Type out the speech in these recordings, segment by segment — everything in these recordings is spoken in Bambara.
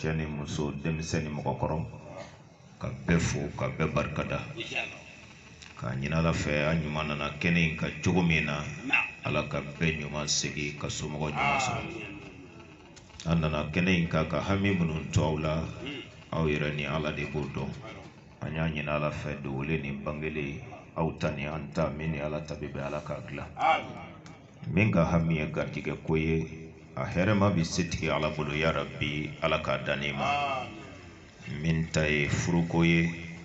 cɛ ni muso denmisɛn ni mɔgɔkɔrɔ ka bɛɛ fo ka bɛɛ barika da k'a ɲinin ala fɛ a ɲuman nana kɛnɛ in kan cogo min na ala ka bɛɛ ɲuman segin ka somɔgɔ ɲuman sɔrɔ a nana kɛnɛ in kan ka hami minnu to aw la aw yɛrɛ ni ala de b'o dɔn an y'a ɲinin ala fɛ dogolen ni bangelen aw ta ni an ta min ni ala ta bɛ bɛn ala k'a dilan min ka hami ye garijɛgɛ ko ye a hɛrɛma bɛ setigi ala bolo ya rabi ala k'a d'an n'i ma min ta ye furuko ye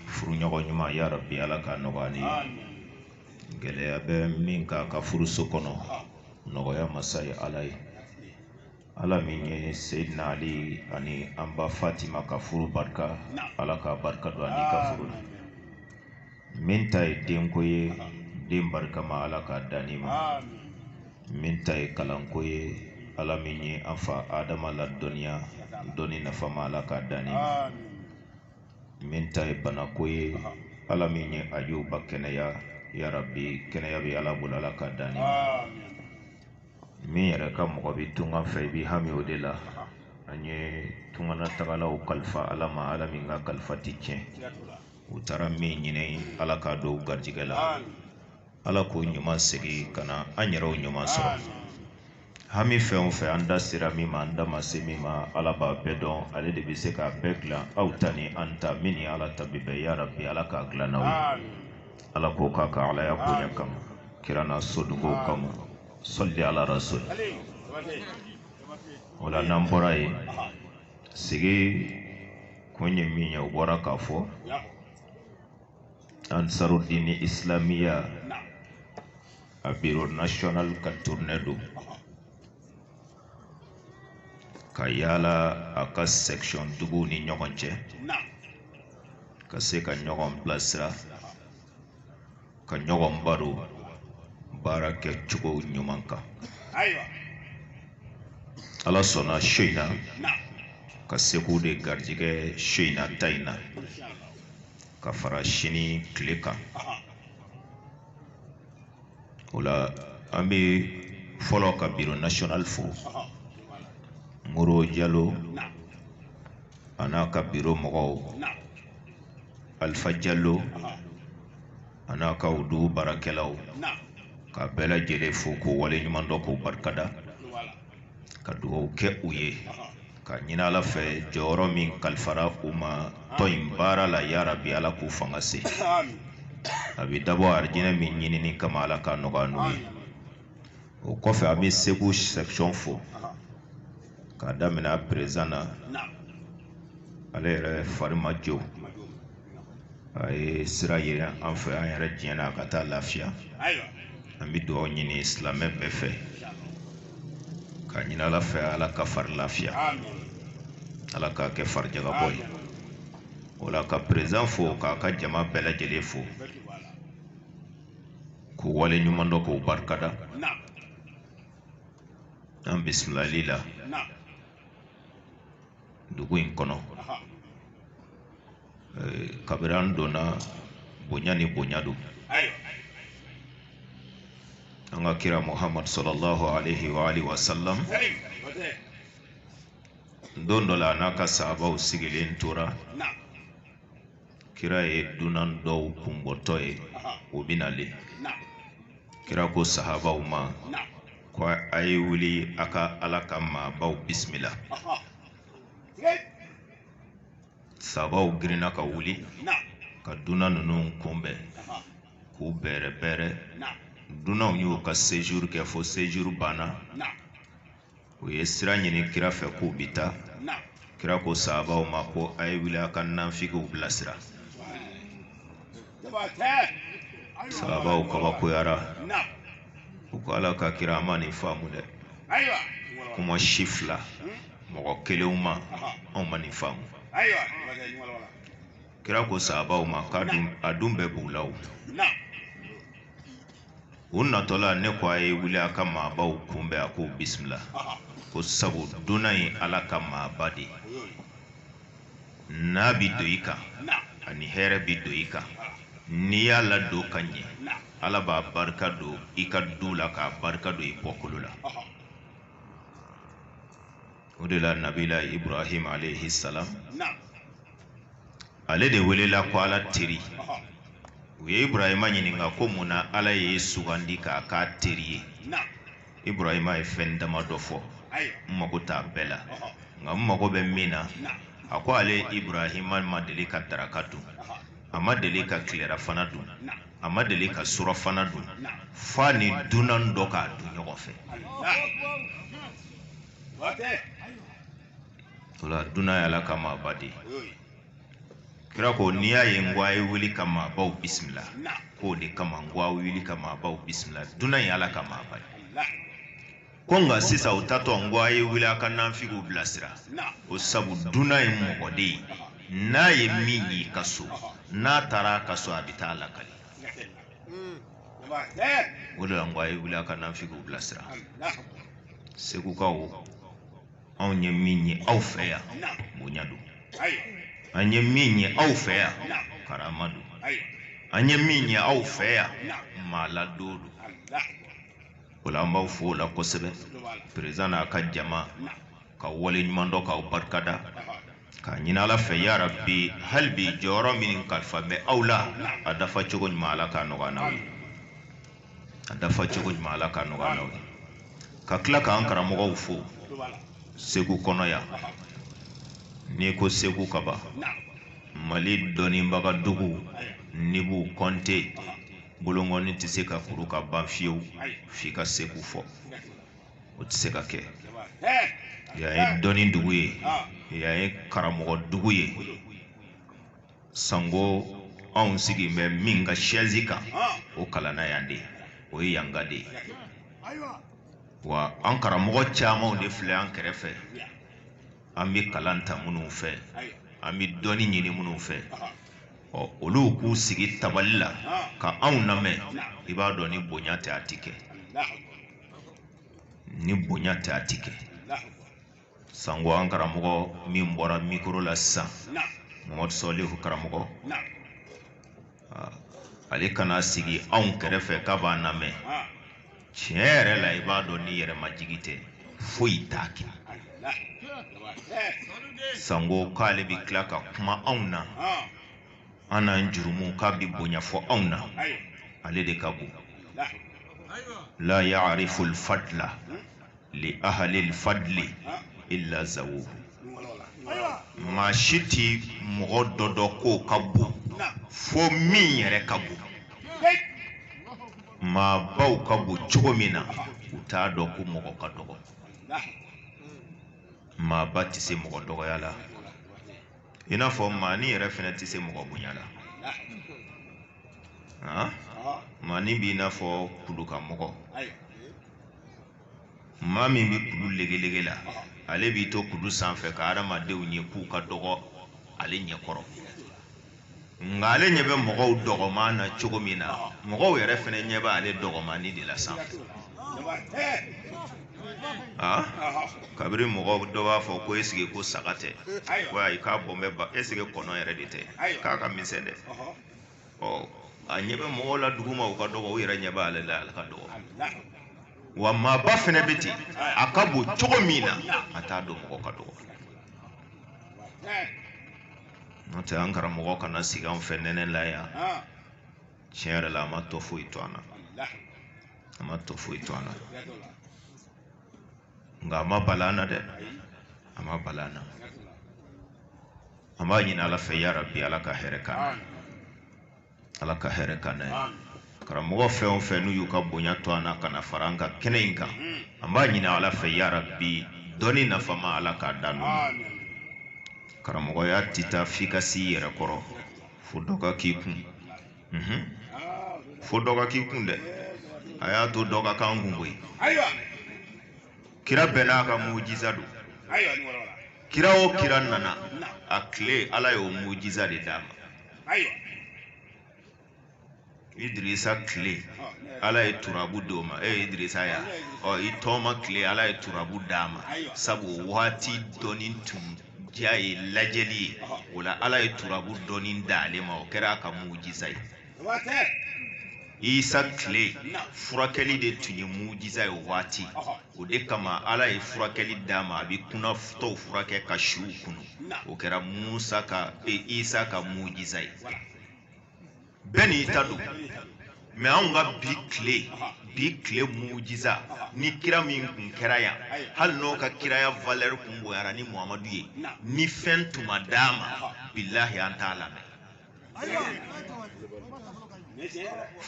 furuɲɔgɔn ɲuman ya rabi ala k'a nɔgɔya an n'i ye gɛlɛya bɛ min k'a ka furuso kɔnɔ nɔgɔya masa ye ala ye ala min ye seidina ali ani an ba fatima ka furu barika ala ka barika don an n'i ka furu la min ta ye denko ye den barikama ala k'a d'an n'i ma min ta ye kalanko ye ala min ye an fa adama ladɔnniya dɔnni nafama ala k'a d'an n'i ma min ta ye banako ye ala min ye ajuba kɛnɛya yarabi kɛnɛya bɛ ala bolo ala k'a d'an n'i ma min yɛrɛ ka mɔgɔ bɛ tunga fɛ i b'i hami o de la an ye tunganatagalaw kalifa ala ma ala min ka kalifa tɛ tiɲɛ u taara min ɲini ala k'a don u garijɛgɛ la ala k'u ɲuman segin ka na an yɛrɛw ɲuman sɔrɔ hami fɛn o fɛn an da sera min ma an da ma se min ma ala b'a bɛɛ dɔn ale de bɛ se k'a bɛɛ dilan aw ta ni an ta min ni ala ta bɛ bɛn yarabi ala k'a dilan an n'aw ye ala k'o k'a ka alaya bonya kama kira n'a sodugow kama sɔli ala rasul o la n'an bɔra yen sigi kun ye min ye o bɔra k'a fɔ ansarudini islamiya a biro national ka tournée don ka yaala a ka section duguw ni ɲɔgɔn cɛ ka se ka ɲɔgɔn bilasira ka ɲɔgɔn baro baara kɛ cogo ɲuman kan ala sɔnna su in na ka segu de garijɛgɛ su in na ta in na ka fara sini tile kan o la an bɛ fɔlɔ ka biro nasiyɔnali fo moro jalo a n'a ka biro mɔgɔw alifa jalo a n'a ka o dugu baarakɛlaw ka bɛɛ lajɛlen fo k'u waleɲuman dɔn k'u barika da ka dugawu kɛ u ye k'a ɲini ala fɛ jɔyɔrɔ min kalifara u ma tɔn in baara la yarabi ala k'u fanga se a bɛ dabɔ arijinɛ min ɲinini kama ala k'a nɔgɔya an n'u ye o kɔfɛ an bɛ segu section fo k'a daminɛ a perezan na ale yɛrɛ fari ma jɛ a ye sira ɲini an fɛ an yɛrɛ diɲɛna a ka taa lafiya an bɛ dugawu ɲini silamɛ bɛɛ fɛ k'a ɲini ala fɛ ala k'a fari lafiya ala k'a kɛ farijagabɔ ye o la ka perezan fo k'a ka jama bɛɛ lajɛlen fo k'u waleɲumandɔn k'u barika da an bisimilali la dugu in kɔnɔ kabini an donna bonya ni bonya don an ka kira muhammad sallallahu alaihi wa alihi wa sallam don dɔ la a n'a ka sahabaw sigilen tora kira ye dunan dɔw kunbɔtɔ ye u bɛ nalen kira ko sahabaw ma ko a ye wuli a ka ala ka maabaw bisimila sabaw girinna ka wuli ka dunan ninnu kunbɛn k'u bɛrɛbɛrɛ dunanw y'u ka sejuru kɛ fo sejuru banna u ye sira ɲini kira fɛ k'u bi taa kira ko sabaw ma ko a ye wuli a ka nanfigiw bilasira sabaw kabakoyara u ko ala ka kira an ma nin faamu dɛ kuma si fila mɔgɔ kelenw ma anw ma nin faamu kira ko sabaw ma k'a dun a dun bɛɛ b'u la o u natɔla ne ko a ye wuli a ka maabaw kunbɛn a k'u bisimila ko sabu dunan ye ala ka maaba de ye n'a bɛ don i kan a ni hɛrɛ bɛ don i kan n'i y'a ladon ka ɲɛ ala b'a barika don i ka du la k'a barika don i bɔkolo la o de la nabila ibrahima alayhi salam ale de welela ko ala teri u ye ibrahima ɲininka ko mun na ala y'e sugandi k'a k'a teri ye ibrahima ye fɛn damadɔ fɔ n mago t'a bɛɛ la nka n mago bɛ min na a ko ale ibrahima ma deli ka daraka dun a ma deli ka tilerafana dun a ma deli ka surafana dun f'a ni dunan dɔ k'a dun ɲɔgɔn fɛ o la dunan ye ala ka maaba de ye kira ko n'i y'a ye n ko a ye wuli ka maabaw bisimila k'o de kama n ko a wuli ka maabaw bisimila dunan ye ala ka maaba de ko nka sisan u taatɔ n ko a ye wuli a ka nanfigiw bilasira o sabu dunan ye mɔgɔ de ye n'a ye min y'i ka so n'a taara a ka so a bɛ taa lakali o de la n ko a ye wuli a ka nafigiw bilasira segukaw anw ye min ye aw fɛ yan bonya don an ye min ye aw fɛ yan karama don an ye min ye aw fɛ yan maaladon don o la an b'aw fo o la kosɛbɛ perezidan n'a ka jama k'aw waleɲumandɔn k'aw barika da k'a ɲini ala fɛ yarabi hali bi jɔyɔrɔ min kalifa bɛ aw la a dafa cogo ɲuman ala k'a nɔgɔya n'aw ye a dafa cogo ɲuman ala k'a nɔgɔya n'aw ye ka tila k'an karamɔgɔw fo segu kɔnɔ yan n'i ko segu ka ban mali dɔnnibaga dugu n'i b'u kɔnte bolonkɔni tɛ se ka kuru ka ban fiyewu f'i ka segu fɔ o tɛ se ka kɛ yan ye dɔnni dugu ye yan ye karamɔgɔ dugu ye sango anw sigi bɛ min ka sɛzi kan o kalanna yan de o ye yanka de ye wa an karamɔgɔ camanw de filɛ an kɛrɛfɛ an bɛ kalan ta minnu fɛ an bɛ dɔnni ɲini minnu fɛ ɔ olu k'u sigi tabali la ka anw lamɛn i b'a dɔn ni bonya tɛ a tɛ kɛ ni bonya tɛ a tɛ kɛ sanko an karamɔgɔ min bɔra mikoro la sisan mamadu sɔlihu karamɔgɔ ale ka na sigi anw kɛrɛfɛ k'a b'an namɛn tiɲɛ yɛrɛ la i b'a dɔn ni yɛrɛmajigi tɛ foyi t'a kɛ sanko k'ale bɛ tila ka kuma anw na an n'an jurumu k'a bɛ bonya fɔ anw na ale de ka bon la ya'rifu al-fadla li ahli al-fadli illa zawuhu maa si tɛ mɔgɔ dɔ dɔn k'o ka bon fo min yɛrɛ ka bon maabaw ka bon cogo min na u t'a dɔn ko mɔgɔ ka dɔgɔ maaba tɛ se mɔgɔ dɔgɔya la i n'a fɔ maanin yɛrɛ fɛnɛ tɛ se mɔgɔ bonya la ah. maanin b'i n'a fɔ kulu kan mɔgɔ maa min bɛ kulu legelege la ale b'i to kulu sanfɛ ka hadamadenw ye k'u ka dɔgɔ ale ɲɛkɔrɔ nka ale ɲɛ bɛ mɔgɔw dɔgɔman na cogo min na mɔgɔw yɛrɛ fana ɲɛ bɛ ale dɔgɔmannin de la sanfɛ ah? kabiri mɔgɔ dɔ b'a fɔ ko e sɛgɛ ko sɛgɛ tɛ ko ayi k'a bɔn bɛ ba e sɛgɛ kɔnɔ yɛrɛ de tɛ k'a ka misɛn dɛ ɔ a ɲɛ bɛ mɔgɔw la duguma u ka dɔgɔ u yɛrɛ ɲɛ b'ale la ale ka dɔgɔ wa maaba fana bɛ ten a ka bon cogo min na a t'a dɔn mɔgɔ ka dɔgɔ n'o tɛ an karamɔgɔ kana sigi an fɛ nɛnɛ la yan tiɲɛ yɛrɛ la a ma tɔ foyi to an na a ma tɔ foyi to an na nka a ma bala an na dɛ a ma bala an na an b'a ɲini ala fɛ yarabi ala ka hɛrɛ k'an na ala ka hɛrɛ k'an na ye karamɔgɔ fɛn o fɛn n'u y'u ka bonya to an na ka na fara an ka kɛnɛ in kan an b'a ɲini ala fɛ yarabi dɔnni nafama ala k'a d'anw ma karamɔgɔya tɛ taa f'i ka s'i yɛrɛ kɔrɔ fo dɔ ka k'i kun fo dɔ ka k'i kun dɛ a y'a to dɔ ka k'an kun koyi kira bɛɛ n'a ka mujiza don kira o kira nana a tile ala y'o mujiza de d'a ma ayiwa idirisa tile ala ye turabu di o ma e ye idirisa ye ɔ i tɔɔma tile ala ye turabu d'a ma sabu waati dɔnni tun diya ye lajɛli ye o la ala ye turabu dɔnni d'ale ma o kɛra a ka mujiza ye isa tile furakɛli de tun ye mujiza ye o waati o de kama ala ye furakɛli d'a ma a bɛ kunatɔw furakɛ ka suw kunu o kɛra musa ka e, isa ka mujiza ye bɛɛ n'i ta don mɛ anw ka bi tile bi tile mujiza ni kira min kun kɛra yan hali n'o ka kiraya valɛri kun bonyara ni muhamadu ye ni fɛn tun ma d'a ma bilahi an t'a lamɛn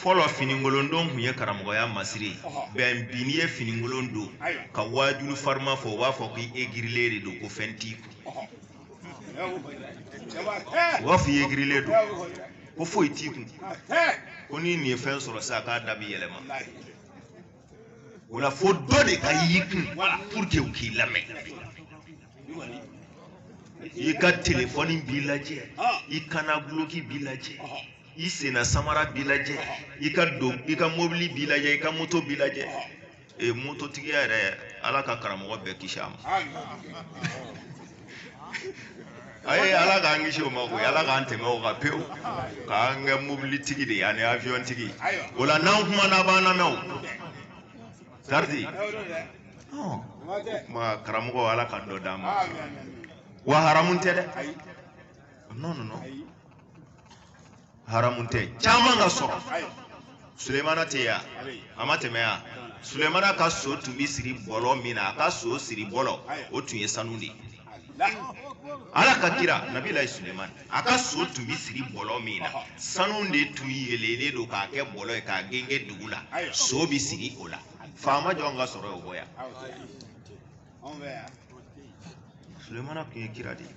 fɔlɔ finikolon don tun ye karamɔgɔya masiri ye bɛn bi n'i ye finikolon don ka waajulu fariman fɔ u b'a fɔ k'i egirilen de don ko fɛn t'i kun u b'a fɔ i egirilen don ko foyi t'i kun ko ni nin ye fɛn sɔrɔ sisan k'a da bi yɛlɛma o la fo dɔ de ka y'i kun pour que u k'i lamɛn i ka telefɔni bi lajɛ i kanna duloki bi lajɛ i senna samara bi lajɛ i ka don i ka mobili bi lajɛ i ka moto bi lajɛ ee mototigiya yɛrɛ ala ka karamɔgɔ bɛɛ kisi a ma a ye ala k'an kisi o ma koyi ala k'an tɛmɛ o kan pewu k'an kɛ mobilitigi de ye ani avion tigi o la n'an kumana a b'an lamɛn o garidi ɔ kuma karamɔgɔ ala ka dɔ d'an ma wa haramu tɛ dɛ non non non haramu tɛ caman ka sɔrɔ sulemana tɛ yan a ma tɛmɛ yan sulemana ka so tun bɛ siri bɔlɔ min na a ka so siri bɔlɔ o tun ye sanu de ye ala ka kira nabilayi sulemani a ka so tun bɛ siri bɔlɔ min na sanu de tun yeelelen don k'a kɛ bɔlɔ ye k'a gengen dugu la so bɛ siri o la faama jɔn ka sɔrɔ y'o bɔ yan sulemana tun ye kira de ye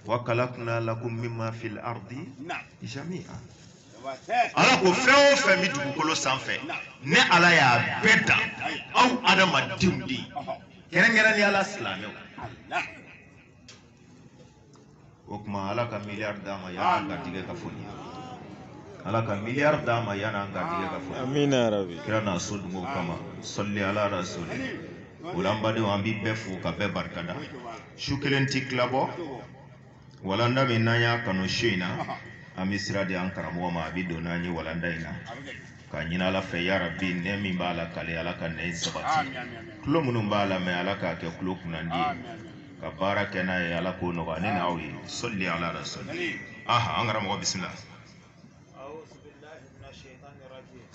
wakalakuna lakum mimma fil ardi jami'a ala ko fɛn o fɛn bɛ dugukolo sanfɛ ne ala y'a bɛɛ dan aw adamadenw de ye kɛrɛnkɛrɛnnenya la silamɛw o tuma ala ka miliyari d'an ma yanni an garijɛgɛ ka fɔ nin ye ala ka miliyari d'an ma yanni an garijɛgɛ ka fɔ amiina yarabi kira n'a sodenw kama sɔli ala rasuli o la an badenw an b'i bɛɛ fo ka bɛɛ barikada su kelen tɛ tilabɔ walanda min n'an y'a kanu su in na an bɛ sira di an karamɔgɔ ma a bɛ don n'an ye walanda in na k'a ɲini ala fɛ yarabi ɲɛ min b'a la k'a lɛ ala ka ɲɛ in sabati tulo minnu b'a lamɛn ala k'a kɛ tulo kunnandi ye ka baara kɛ n'a ye ala k'o nɔgɔya ne n'aw ye sɔli ala rasuli aha an karamɔgɔ bisimila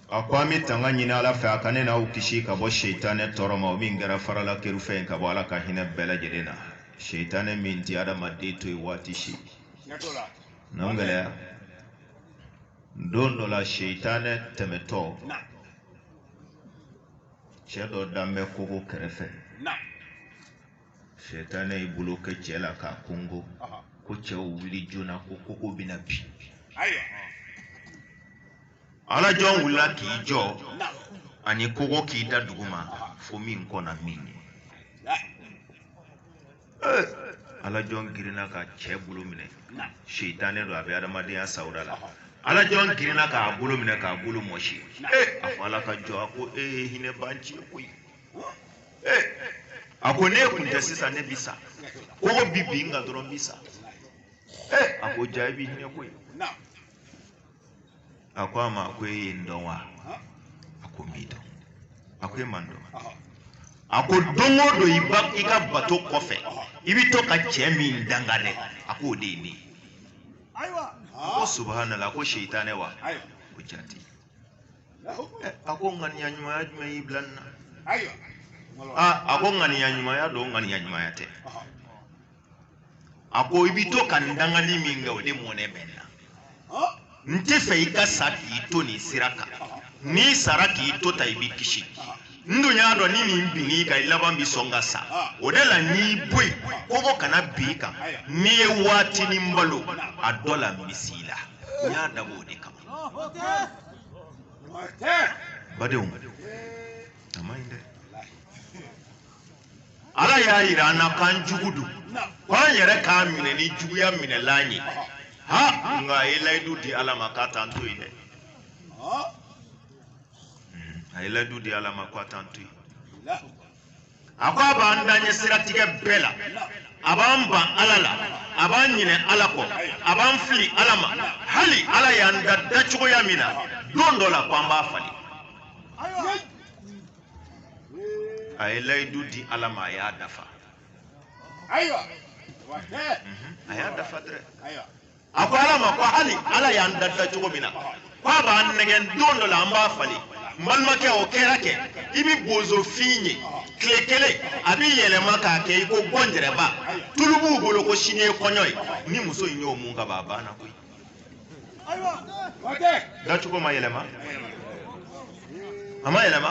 a ko an bɛ tanga ɲini ala fɛ a ka ne n'aw kisi ka bɔ seitanɛ tɔɔrɔ ma o min kɛra faralakerun fɛn ye ka bɔ ala ka hinɛ bɛɛ lajɛlen na seitanɛ min ti adamaden to yen waati si n'an gɛlɛya don dɔ la seitanɛ tɛmɛtɔ cɛ dɔ dalen bɛ kogo kɛrɛfɛ seitanɛ y'i bolo kɛ cɛ la k'a konkon ko cɛ wuli joona ko kogo bɛna bin ala jɔn wulila k'i jɔ ani kogo k'i da duguma fo min kɔnna min ɲɛ eh, ala jɔn girinna ka cɛ bolo minɛ seitanɛ don a bɛ adamadenya sawura la ala jɔn girinna k'a bolo minɛ k'a bolo mɔsi eh, a fɔ ala ka jɔn a ko ee eh, hinɛ b'an ci koyi Eh, a ko ni e kun tɛ sisan ne bi sa kogo bi bin n kan dɔrɔn n bi sa Eh, a ko ja i bi hinɛ koyi a ko a ma ko e ye n dɔn wa a ko n m'i dɔn a ko e ma n dɔn a ko don o don i ba i ka bato kɔfɛ i bɛ to ka cɛ min danga dɛ a ko o de ye ne ye a ko subahanala a ko seitanɛ wa ko jaati a ko ŋaniya ɲumanya jumɛn y'i bila nin na ayiwa aa a ko ŋaniya ɲumanya don ŋaniya ɲumanya tɛ a ko i bɛ to ka n dangali min kɛ o de mɔnɛ bɛ n na n t'a fɛ i ka sa k'i to nin sira kan n'i sara k'i to tan i bɛ kisi n dun y'a dɔn ni nin binn'i kan i laban bɛ sɔn ka sa o de la n y'i bɔ yen koko kana bin i kan n'i ye waatinin balo a dɔ la n bɛ s'i la n y'a dabɔ o de kama badenw a man ɲi dɛ ala y'a yira an na k'an jugu don k'an yɛrɛ k'a minɛ ni juguya minɛlan ye ha nka a ye layidu di ala ma k'a t'an to yen dɛ a ye layidu di ala ma k'a t'an to yen a ko a b'an daɲɛ siratigɛ bɛɛ la a b'an ban ala la a b'an ɲinɛ ala kɔ a b'an fili ala ma hali ala y'an da dacogoya min na don dɔ la ko an b'a falen a ye layidu di ala ma a y'a dafa a y'a dafa dɛrɛ a ko ala ma ko hali ala y'an da dacogo min na ko a b'an nɛgɛn don dɔ la an b'a falen n balimakɛ o kɛra kɛ i bɛ bozofin ye tile kelen a bɛ yɛlɛma k'a kɛ i ko gɔnjɛrɛba tulu b'u bolo ko sini ye kɔɲɔ ye ni muso in y'o mun ka ban a banna koyi dacogo ma yɛlɛma a ma yɛlɛma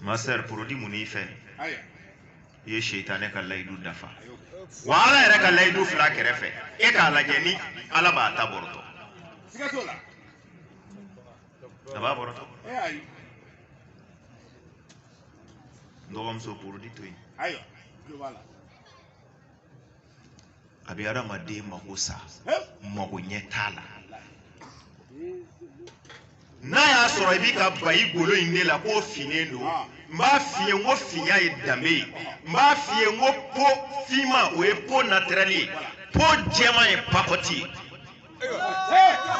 ma sœur porodi mun n'i fɛ i ye seitanɛ ka layidu dafa wa ala yɛrɛ ka layidu filɛ kɛrɛfɛ e k'a lajɛ ni ala b'a ta bɔrɔtɔ a b'a bɔrɔtɔ n dɔgɔmuso porodi to yen a bɛ adamaden mako sa mako ɲɛ t'a la n'a y'a sɔrɔ i bɛ ka ban i golo in de la k'o finnen don n b'a f'i ye n ko finya ye danbe ye n b'a f'i ye n ko po finma o ye po natirɛli ye po jɛman ye pakɔti ye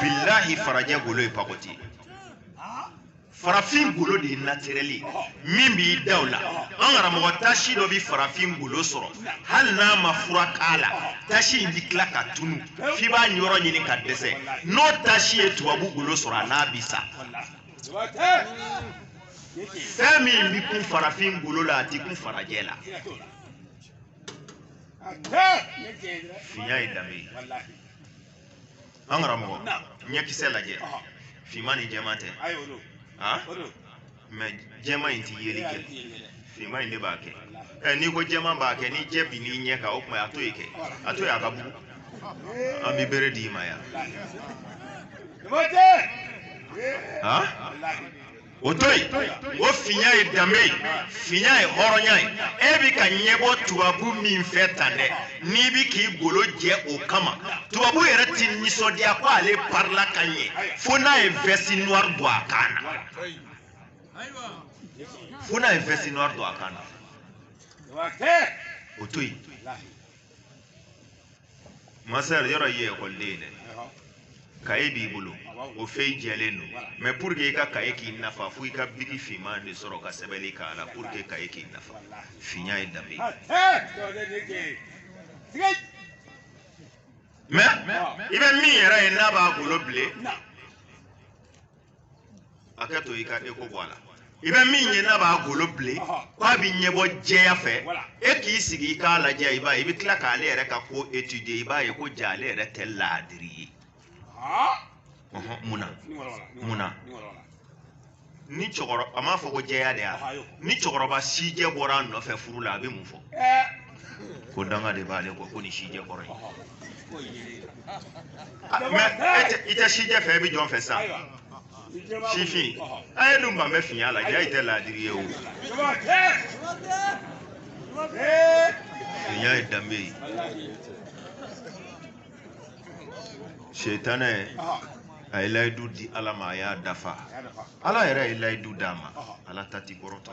bilahi farajɛ golo ye pakɔti ye farafin golo de ye natirɛli min b'i daw la an karamɔgɔ tasi dɔ bɛ farafin golo sɔrɔ hali n'a ma fura k'a la tasi in bɛ tila ka tunu f'i b'a yɔrɔ ɲini ka dɛsɛ n'o tasi ye tubabu golo sɔrɔ a n'a bɛ sa fɛn min bɛ kun farafin golo la a tɛ kun farajɛ la finya ye danbe ye an karamɔgɔ ɲɛkisɛ lajɛ finman ni jɛman tɛ han mɛ jɛman in ti yeli kɛ finman in de b'a kɛ ɛ n'i ko jɛman b'a kɛ ni jɛ binn'i ɲɛ kan o tuma a to yen kɛ a to yen a ka bugu an bɛ bere d'i ma yan han o to yen o finya ye danbe ye finya ye hɔrɔnya ye e bɛ ka ɲɛbɔ tubabu min fɛ tan dɛ n'i bɛ k'i golo jɛ o kama tubabu yɛrɛ ti nisɔndiya ko ale parila ka ɲɛ fo n'a ye vɛsi noir don a kan na fo n'a ye vɛsi noir don a kan na o to yen masar yɔrɔ ye ekɔliden ye dɛ kaye b'i bolo o fɛn in jɛlen don mɛ pour que i ka kaye k'i nafa fo i ka biki finman de sɔrɔ ka sɛbɛnni k'a la pour que kaye k'i nafa finya ye danbe ye i bɛ min yɛrɛ ye n'a b'a golo bilen a kɛ to i ka e ko bɔ a la i bɛ min ye n'a b'a golo bilen ko a bɛ ɲɛbɔ jɛya fɛ e k'i sigi i k'a lajɛ i b'a ye i bɛ tila k'ale yɛrɛ ka ko étudier i b'a ye ko ja ale yɛrɛ tɛ laadiri ye mun na mun na ni cɛkɔrɔba a m'a fɔ ko jɛya de y'a ni cɛkɔrɔba sijɛ bɔra a nɔfɛ furu la a bɛ mun fɔ ko danga de b'ale kɔ ko nin sijɛ kɔrɔ ye Ah, mɛ e i tɛ sijɛ fɛ e bɛ jɔn fɛ sa sifin a ye dun ban bɛ finya la ja i tɛ laadiri ye o finya ye danbe ye setanɛ a ye layidu di ala ma a y'a dafa ala yɛrɛ ye layidu d'a ma ala ta ti kɔrɔtɔ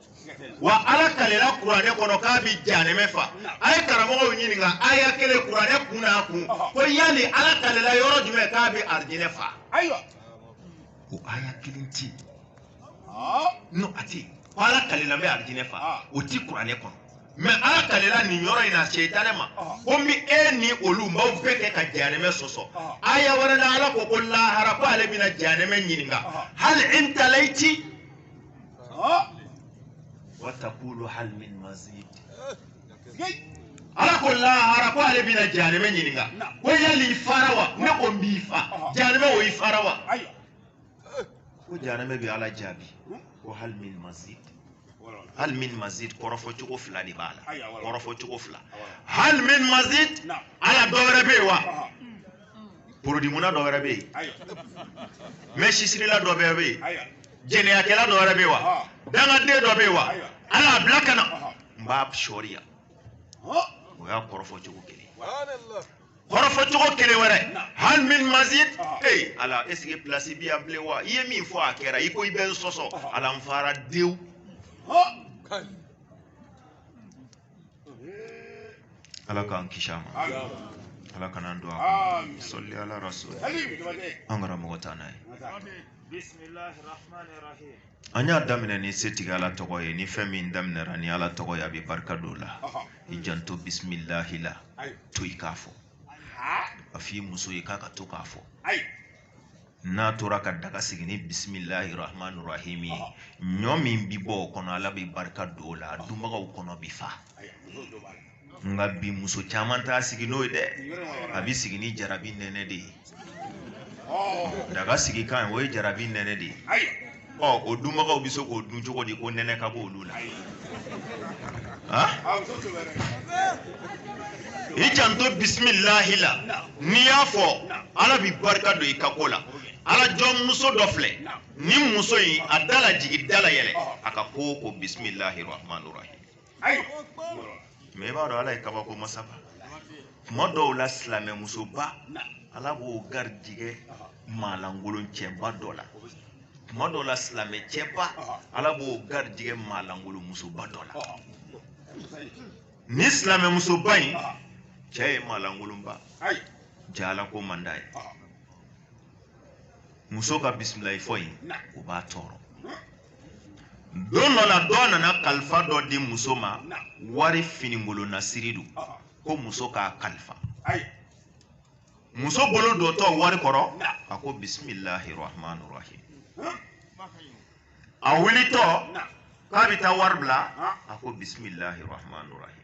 wa ala kalela kuranɛ kɔnɔ k'a bi janɛmɛ fa a ye karamɔgɔw ɲininka aya kelen kuranɛ kun n'a kun ko yali ala kalela yɔrɔ jumɛn k'a bi arijinɛ fa ayiwa o aya kelen ti no a ti ko ala kalela n bɛ arijinɛ fa o ti kuranɛ kɔnɔ mɛ ala kalela nin yɔrɔ in na setanɛ ma ko n bi e ni olu n b'aw bɛɛ kɛ ka janɛmɛ sɔsɔ aya wɛrɛ la ala ko ko lahara ko ale bɛna janɛmɛ ɲininka hal imtalati Ah, wa takulu hal min mazid sigai. ala ko lahara ko ale bɛna jahanɛmɛ ɲininka Na. ko yali i fara wa ne ko n b'i fa Ɔhɔ. jahanɛmɛ o i fara wa Ayiwa. ko jahanɛmɛ bɛ ala jaabi Hmm? ko hal min mazid Wala, wala. hal min mazid kɔrɔfɔ cogo fila de b'a la Ayiwa, wala. kɔrɔfɔ cogo fila Awɔ. hal min mazid Na. yala dɔ wɛrɛ bɛ yen wa Ɔhɔ. porodimuna dɔ wɛrɛ bɛ yen mɛ sisirila dɔ bɛɛ bɛ yen jɛnɛyakɛla dɔ wɛrɛ bɛ yen wa dangaden dɔ bɛ yen wa ala y'a bila ka na n b'a sɔriya o y'a kɔrɔfɔ cogo kelen kɔrɔfɔ cogo kelen wɛrɛ hali min mazid ee ala esike pilasi bi yan bilen wa i ye min fɔ a kɛra i ko i bɛ n sɔsɔ ala n fara dewu ala k'an kisi a ma ala kan'an don a kɔnɔ sali ala rasul an karamɔgɔ t'an n'a ye an y'a daminɛ ni setigi ala tɔgɔ ye ni fɛn min daminɛra ni ala tɔgɔ ye a bɛ barika don o la i janto bisimilahi la to i k'a fɔ a f'i muso ye k'a ka to k'a fɔ n'a tora ka daga sigi ni bisimilahi rahmani rahim ye ɲɔ min bi bɔ o kɔnɔ ala bɛ barika don o la a dunbagaw kɔnɔ bi fa nka bi muso caman t'a sigi n'o ye dɛ a bɛ sigi ni jarabi nɛnɛ de ye daga sigi kan o ye jarabi nɛnɛ de ye ɔ o dunbagaw bɛ se k'o dun cogo di ko nɛnɛ ka bɔ olu la i janto bisimilahi la n'i y'a fɔ ala bɛ barika don i ka ko la ala jɔn muso dɔ filɛ nin muso in a da la jigin da la yɛlɛ a ka ko o ko bisimilahi rahman rahim mɛ i b'a dɔn ala ye kabako masaba tuma dɔw la silamɛmusoba ala b'o garijigɛ maalankolon cɛba dɔ la tuma dɔw la silamɛ cɛba ala b'o garijigɛ maalankolon musoba dɔ la nin silamɛmusoba in cɛ ye maalankolonba ye ala ko man d'a ye muso ka bisimilahi fɔ in o b'a tɔɔrɔ don dɔ la dɔ nana kalifa dɔ di muso ma wari finikolonasiri don ko muso k'a kalifa muso bolo dontɔ wari kɔrɔ a ko bisimilahi rahman rahim a wulitɔ k'a bɛ taa wari bila a ko bisimilahi rahman rahim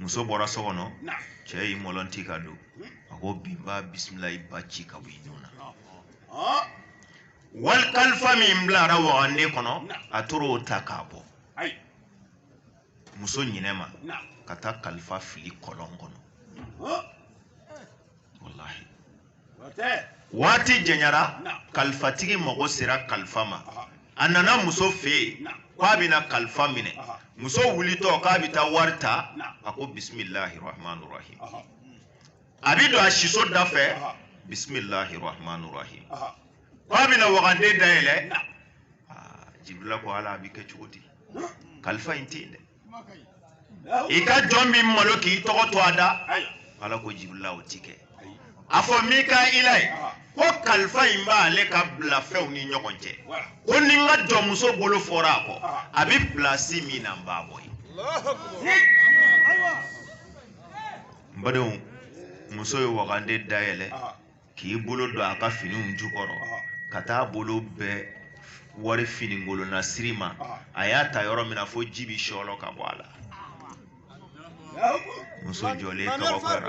muso bɔra so kɔnɔ cɛ y'i mɔlɔnti ka don a ko bi n b'a bisimilahi ba ci ka bɔ i nun na wari kalifa min bilara wagande kɔnɔ a taara o ta k'a bɔ muso ɲinɛ ma ka taa kalifa fili kɔlɔn kɔnɔ walahi waati janyara kalifatigi mago sera kalifa ma a nana muso fɛ yen k'a bɛna kalifa minɛ muso wulitɔ k'a bɛ taa wari ta a ko bisimilahi rahman rahim a bɛ don a siso da fɛ bisimilahi rahman rahim k'a bɛna wagande dayɛlɛ jibirila ko ala a bɛ kɛ cogo di kalifa in tɛ yen dɛ i ka jɔn min malo k'i tɔgɔ to a da ala ko jibirila o ti kɛ a fɔ mikaila ye ko kalifa in b'ale ka bila fɛnw ni ɲɔgɔn cɛ ko ni n ka jɔnmuso bolo fɔra a kɔ a bɛ pilasi min na n b'a bɔ yen n badenw muso ye wagande dayɛlɛ k'i bolo don a ka finiw jukɔrɔ ka taa bolo bɛn wari finikolon na siri ma a y'a ta yɔrɔ min na fo ji bi sɔlɔ ka bɔ a la muso jɔlen kabakora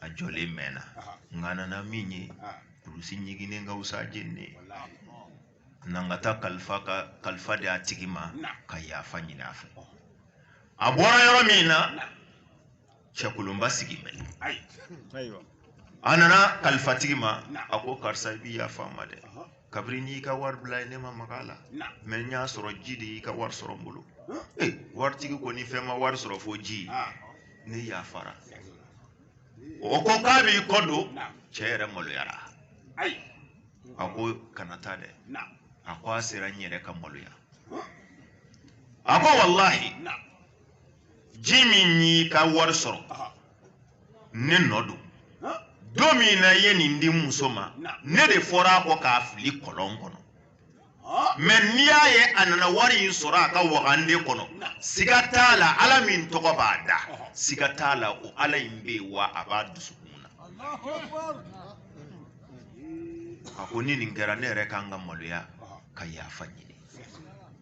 a jɔlen mɛnna nka a nana min ye kulusi ɲiginnen ka wusa jeni na n ka taa kalifa ka kalifa di a tigi ma ka yafa ɲini a fɛ a bɔra yɔrɔ min na cɛkolonba sigi bɛ a nana kalifatigi ma a ko karisa i bi yafa n ma dɛ kabiri i y'i ka wari bila yen ne ma maga a la mɛ n y'a sɔrɔ ji de y'i ka wari sɔrɔ n bolo ee waritigi ko ni fɛn ma wari sɔrɔ fo ji ne yafara o ko k'a b'i kɔ don cɛ yɛrɛ maloyara a ko kana taa dɛ a ko a sera n yɛrɛ ka maloya a ko walahi ji min y'i ka wari sɔrɔ ne nɔ don don min na i ye nin di muso ma ne de fɔra a kɔ k'a fili kɔlɔn kɔnɔ mɛ n'i y'a ye a nana wari in sɔrɔ a ka wagande kɔnɔ siga t'a la ala min tɔgɔ b'a da siga t'a la o ala in bɛ yen wa a b'a dusukun na a ko ni nin kɛra ne yɛrɛ kan ka maloya ka yafa ɲini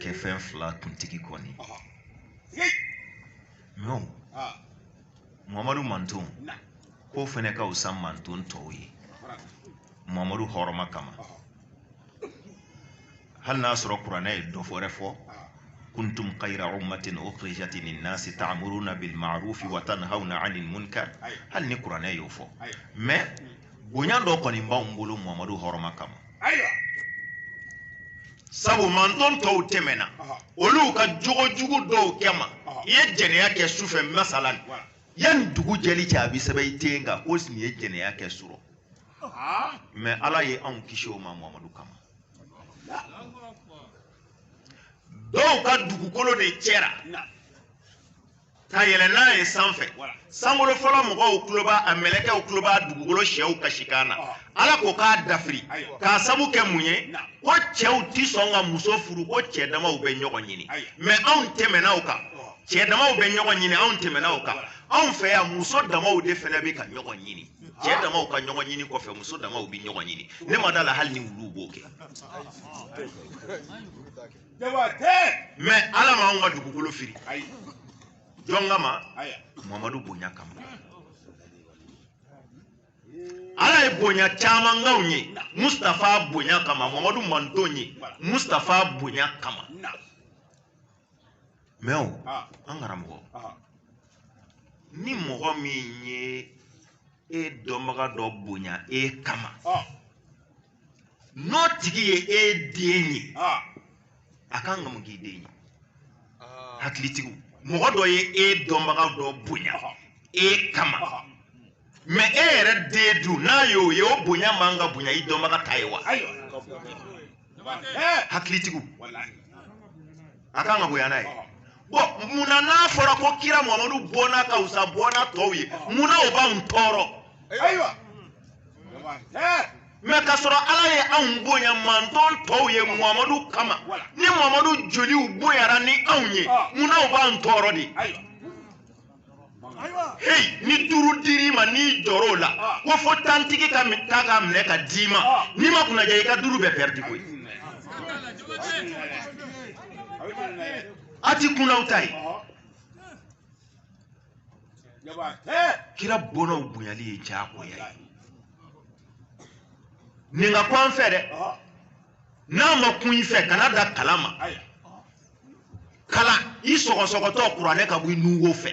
kɛ fɛn fila kuntigi kɔni mɛ mamadu manton k'o fɛnɛ ka fisa manton tɔw ye mamadu hɔrɔma kama hali n'a sɔrɔ kuranɛ ye dɔ wɛrɛ fɔ kuntum kayira ummatin ukhrijat linnasi ta'muruna bilma'rufi wa tanhauna 'anil munkar hali ni kuranɛ y'o fɔ mais bonya dɔ kɔni b'anw bolo mamadu hɔrɔma kama ayiwa sabu manton tɔw tɛmɛna olu ka jogo jugu dɔw kɛ ma i ye jɛnɛya kɛ su fɛ masalan yanni dugu jɛli cɛ a bɛ sɛbɛn i ten kan ko nin ye jɛnɛya kɛ surɔ mɛ ala ye anw kisi o ma mamadu kama dɔw ka dugukolo de cɛra ka yɛlɛ n'a ye sanfɛ sankolo fɔlɔ mɔgɔw tulo b'a a mɛlɛkɛw tulo b'a dugukolo syɛw kasikan na ala ko k'a dafiri k'a sabu kɛ mun ye ko cɛw ti sɔn ka muso furu ko cɛ damaw bɛ ɲɔgɔn ɲini mɛ anw tɛmɛna o kan cɛ damaw bɛ ɲɔgɔn ɲini anw tɛmɛna o kan anw fɛ yan muso damaw de fana bɛ ka ɲɔgɔn ɲini cɛ damaw ka ɲɔgɔn ɲini kɔfɛ muso damaw bɛ ɲɔgɔn ɲini ne ma da la hali ni wuluw b'o kɛ jaba tɛ mɛ ala ma anw ka dugukolo firi ayi jɔn kama aya mamadu bonya kama ala ye bonya caman k'anw ye mustafa bonya kama mamadu mantonw ye mustafa bonya kama na mɛ o ah an karamɔgɔ ah ni mɔgɔ min ye e dɔnbaga dɔ bonya e kama ah n'o tigi ye e den ye a kan ka mun k'i den ye hakilitigiw mɔgɔ dɔ ye e dɔnbaga dɔ bonya e kama mɛ e yɛrɛ den dun n'a y'o ye o bonya man ka bonya i dɔnbaga ta ye wa hakilitigiw a kan ka bonya n'a ye bɔn munna n'a fɔra ko kira mamadu bɔnna ka wusa bɔnna tɔw ye munna o b'anw tɔɔrɔ ayiwa mɛ ka sɔrɔ ala ye anw bonya manton tɔw ye mamadu kama ni mamadu joliw bonyara ni anw ye munna o b'anw tɔɔrɔ de heyi ni duuru dir'i ma n'i jɔr'o la ah. ko fo tantigi ka ta k'a minɛ ka d'i ma ah. n'i ma kunnaja i ka duuru bɛɛ pɛridi koyi a ti kunnaw ta ye kira bɔnnaw bonyali ye diyagoya ye nin ka ko an fɛ dɛ n'a ma kun i fɛ kana da kalan ma kalan i sɔgɔsɔgɔtɔ kuranɛ ka bɔ i nunwo fɛ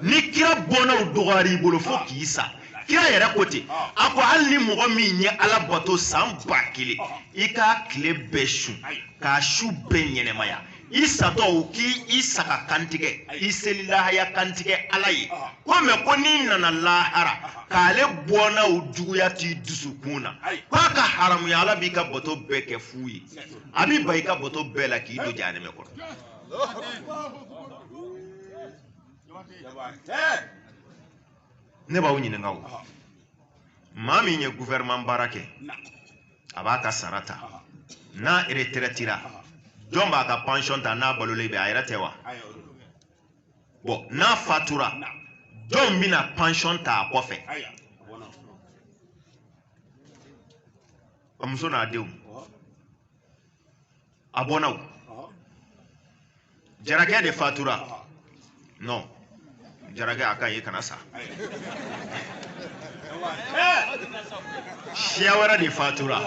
ni kira bɔnnaw dɔgɔyara i bolo fo k'i sa kira yɛrɛ ko ten a ko hali ni mɔgɔ min ye ala bato san ba kelen i k'a tile bɛɛ sun k'a su bɛɛ ɲɛnamaya i satɔ u k'i i saga kantigɛ i seli lahaya kantigɛ ala ye ko mɛ ko n'i nana lahara k'ale bɔnnaw juguya t'i dusukun na k'a ka haramuya ala b'i ka bato bɛɛ kɛ fu ye a b'i ban i ka bato bɛɛ la k'i don jahanɛmɛ kɔnɔ ne b'aw ɲininka o maa min ye gouvernement baara kɛ a b'a ka sara ta n'a retraitera jɔn b'a ka pension ta n'a balolen bɛ a yɛrɛ tɛ wa bon n'a fatura jɔn bɛna pension ta a kɔfɛ a muso n'a denw a bɔnna o jarakɛ de fatura non jarakɛ a ka ye kana sa siya wɛrɛ de fatura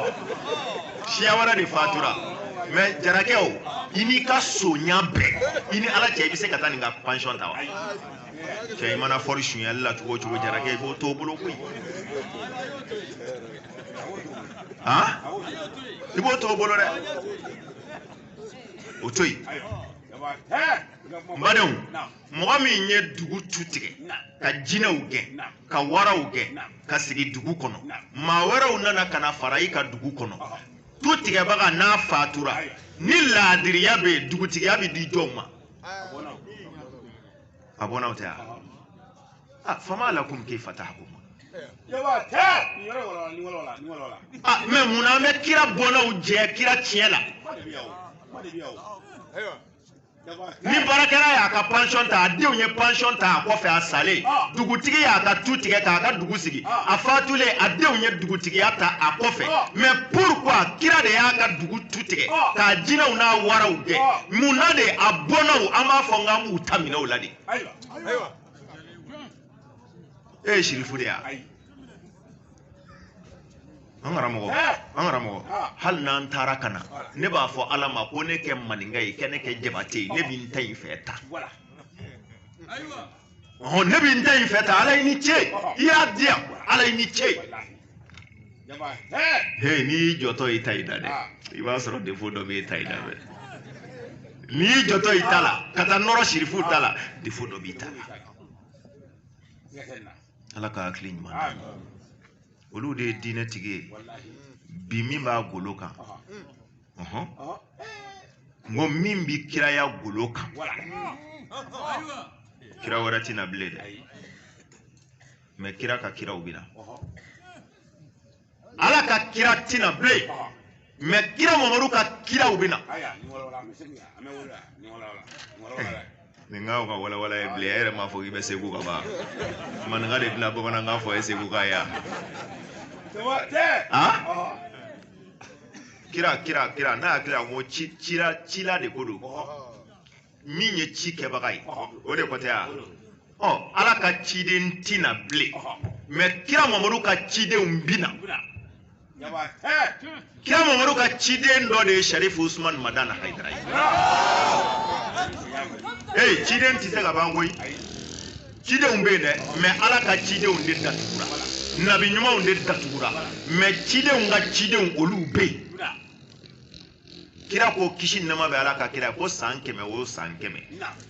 siya wɛrɛ de fatura mais jarakɛ o i n'i ka sonya bɛɛ i ni ala cɛ i bɛ se ka taa nin ka pansiyɔn ta wa cɛ i mana fɔri sunyali la cogo o cogo jarakɛ i b'o t'o bolo koyi i b'o to o bolo dɛ o to yen n badenw mɔgɔ min ye dugu tu tigɛ ka jinɛw gɛn ka waraw gɛn ka sigi dugu kɔnɔ maa wɛrɛw nana ka na fara i kan dugu kɔnɔ tu tigɛbaga n'a fatura ni laadiriya bɛ yen dugutigiya bɛ di jɔnw ma a bɔnnaw tɛ wa ah fama lakum kayfa tahkumun yawa tɛ nin yɔrɔ wɔlɔla nin wɔlɔla nin wɔlɔla ah mais mun na an bɛ kira bɔnnaw jɛ kira tiɲɛ la kuma de bɛ yan o kuma de bɛ yan o ayiwa yawa tɛ ni baarakɛla y'a ka pension ta a denw ye pension ta a kɔfɛ a salen Ah. dugutigi y'a ka tu tigɛ k'a ka dugu sigi Ah. a fatulen a denw ye dugutigiya ta a kɔfɛ Ah. mais pourquoi kira de y'a ka dugu tu tigɛ Ah. k'a jinɛw n'a waraw gɛn Ah. mun na de a bɔnnaw an b'a fɔ n k'an b'u ta minɛ u la de ayiwa ayiwa e ye sirifu de ye an karamɔgɔ an karamɔgɔ hali n'an taara ka na ne b'a fɔ ala ma ko ne kɛ maninka ye kɛ ne kɛ jabate ye ne bɛ n ta in fɛ tan ne bɛ n ta in fɛ tan ala i ni ce i y'a diya ala i ni ce he n'i y'i jɔtɔ i ta in na dɛ ah. i b'a sɔrɔ defo dɔ b'i ta in na dɛ n'i y'i jɔtɔ i ta la ka taa nɔrɔ sirifu ta la defo dɔ b'i ta la ala ka hakili ɲuman d'an ma olu de ye diinɛ tigi ye bi min b'a golo kan n ko min bɛ kiraya golo kan kira wɛrɛ tɛ na bilen dɛ mais kira ka kiraw bɛ na ala ka kira tɛ na bilen mais kira mamadu ka kiraw bɛ na nin ka kan ka walawala i ye bilen e yɛrɛ m'a fɔ k'i bɛ segu ka ban maninka de bɛna bamanankan fɔ e seguka ye kira kira kira ne hakili la ko ci cira cila de ko don min ye ci kɛbaga ye o de kɔtɛ ya ɔ ala ka ciden ti na bilen mɛ kira mamadu ka cidenw bi na kira mamadu ka ciden dɔ de ye sarifu usman madani hayidara ye ee ciden tɛ se ka ban koyi cidenw bɛ yen dɛ mɛ ala ka cidenw de datugura nabiɲumanw de datugura mɛ cidenw ka cidenw olu bɛ yen kira ko kisi nɛɛma bɛ ala ka kira ko san kɛmɛ o san kɛmɛ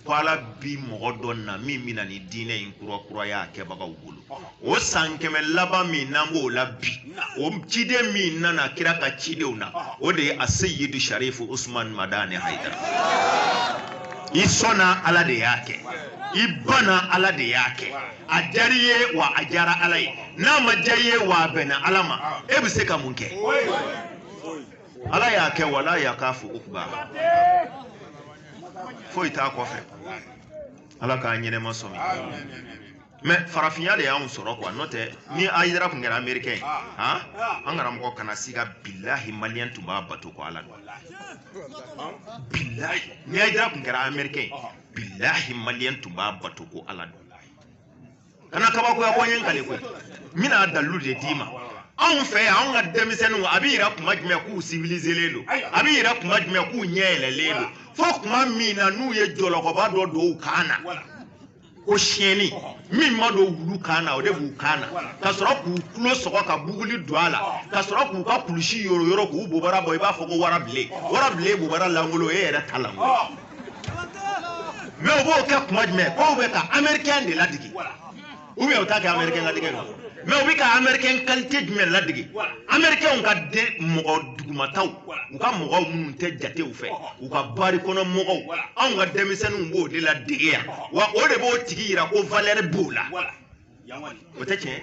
ko ala bi mɔgɔ dɔ na min bɛna nin diinɛ in kurakuraya kɛbagaw bolo o san kɛmɛ laban min n'an b'o la bi o ciden min nana kira ka cidenw na o de ye asɛyidu sarifu usman madani hayidara i sɔnna ala de y'a kɛ i banna ala de y'a kɛ a diyara i ye wa a diyara ala ye n'a ma diya i ye wa a bɛnna ala ma e bɛ se ka mun kɛ ala y'a kɛ wa ala y'a k'a fo ukuba foyi t'a kɔfɛ ala k'a ɲɛnama sɔmi mɛ farafinya de y'anw sɔrɔ kuwa n'o tɛ ni ayidara tun kɛra amerikɛn ye han an karamɔgɔ kana siga bilahi maliyɛn tun b'a bato ko ala don bilahi ni ayidara tun kɛra amerikɛn ye bilahi maliyɛn tun b'a bato ko ala don kana kabakoya ko n ye n kali koyi n bɛna dalilu de d'i ma anw fɛ yan anw ka denmisɛnninw a bɛ yira kuma jumɛn k'u sivilizelen don a bɛ yira kuma jumɛn k'u ɲɛ yɛlɛlen don fo kuma min na n'u ye jɔlɔkɔba dɔ don u kan na ko siyɛnni min ma don wulu kan na o de b'u kan na ka sɔrɔ k'u tulo sɔgɔ ka buguli don a la ka sɔrɔ k'u ka kulusi yoroyoro k'u bobara bɔ i b'a fɔ ko warabilen warabilen bobara lankolon e yɛrɛ ta lankolon mɛ u b'o kɛ kuma jumɛn k'u bɛ ka amɛrikɛn de ladege u bɛ u t'a kɛ amɛrikɛn ladege la mɛ u bɛ ka amɛrikɛn kalite jumɛn ladege amɛrikɛnw ka de mɔgɔ dugumataw u ka mɔgɔw minnu tɛ jatew fɛ u ka bari kɔnɔ mɔgɔw anw ka denmisɛnninw b'o de ladege yan wa o de b'o tigi yira ko valɛri b'o la o tɛ tiɲɛ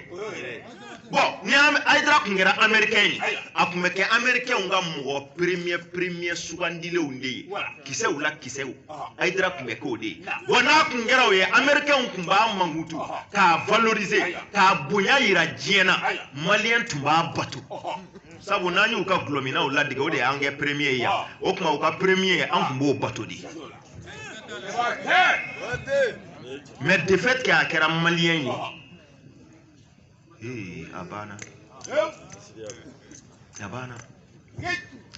bɔn ni ayidara tun kɛra amerikɛn ye a tun bɛ kɛ amerikɛnw ka mɔgɔ peremiyɛ peremiyɛ sugandilenw de ye kisɛw la kisɛ ayidara tun bɛ k'o de ye bɔn n'a tun kɛra o ye amerikɛnw tun b'a mankutu k'a valorize k'a bonya yira diɲɛ na maliyɛn tun b'a bato sabu n'an y'u ka gulɔminnaw ladege o de y'an kɛ peremiye ye yan o tuma u ka peremiye an tun b'o bato de mais de fait que a kɛra maliyɛn ye ee a banna a banna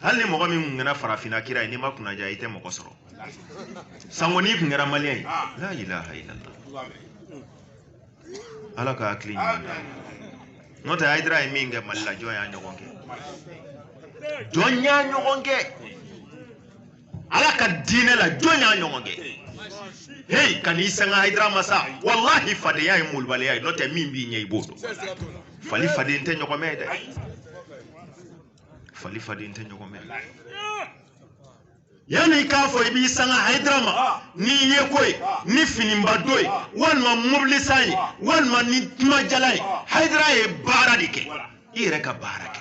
hali ni mɔgɔ min kun kɛra farafinna kira ye n'i ma kunnaja i tɛ mɔgɔ sɔrɔ sango n'i kun kɛra maliyɛn ye la ilaha illallah ala ka hakili ɲuman d'an ma n'o tɛ ayidara ye min kɛ mali la jɔn y'a ɲɔgɔn kɛ jɔn y'a ɲɔgɔn kɛ ala ka diinɛ la jɔn y'a ɲɔgɔn kɛ heyi kan'i sanga hayidara ma sa walahi fadenya ye malobaliya ye n'o tɛ min b'i ɲɛ i b'o dɔn fali faden tɛ ɲɔgɔn mɛn dɛ fali faden tɛ ɲɔgɔn mɛn yanni i k'a fɔ i b'i sanga hayidara ma n'i ye ko ye ni finiba don ye walima mobili san ye walima ni kumajala ye hayidara ye baara de kɛ i yɛrɛ ka baara kɛ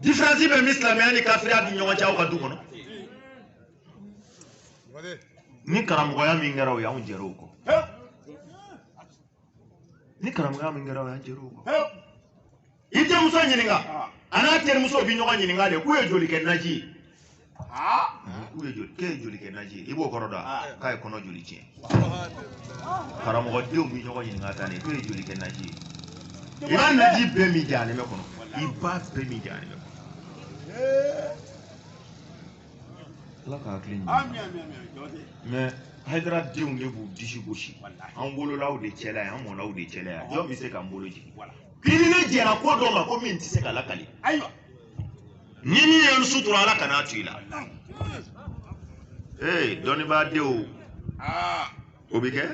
diferansi bɛ min silamɛya ni kafiriya ni ɲɔgɔn cɛ aw ka du kɔnɔ ni karamɔgɔya min kɛra o ye anw jɛra o kɔ ni karamɔgɔya min kɛra o ye an jɛra o kɔ i denmuso ɲininka a n'a terimuso bɛ ɲɔgɔn ɲininka de k'u ye joli kɛ naji ye k'u ye joli k'e ye joli kɛ naji ye i b'o kɔrɔ dɔn wa k'a ye kɔnɔ joli tiɲɛ karamɔgɔdenw bɛ ɲɔgɔn ɲininka tan de k'e ye joli kɛ naji ye i b'a naji bɛɛ min jahanama kɔnɔ i b'a bɛɛ min jahanama kɔnɔ ala ka hakili ɲuman mɛ hayidara denw de b'u disi gosi an wolol'aw de cɛla ye an mɔl'aw de cɛla ye jɔn bɛ se k'an bolo jigin k'i ni ne jɛra ko dɔ ma ko min tɛ se ka lakali ayiwa ni min ye n sutura ala kana a to i la ee dɔnnibaa denw o bɛ kɛ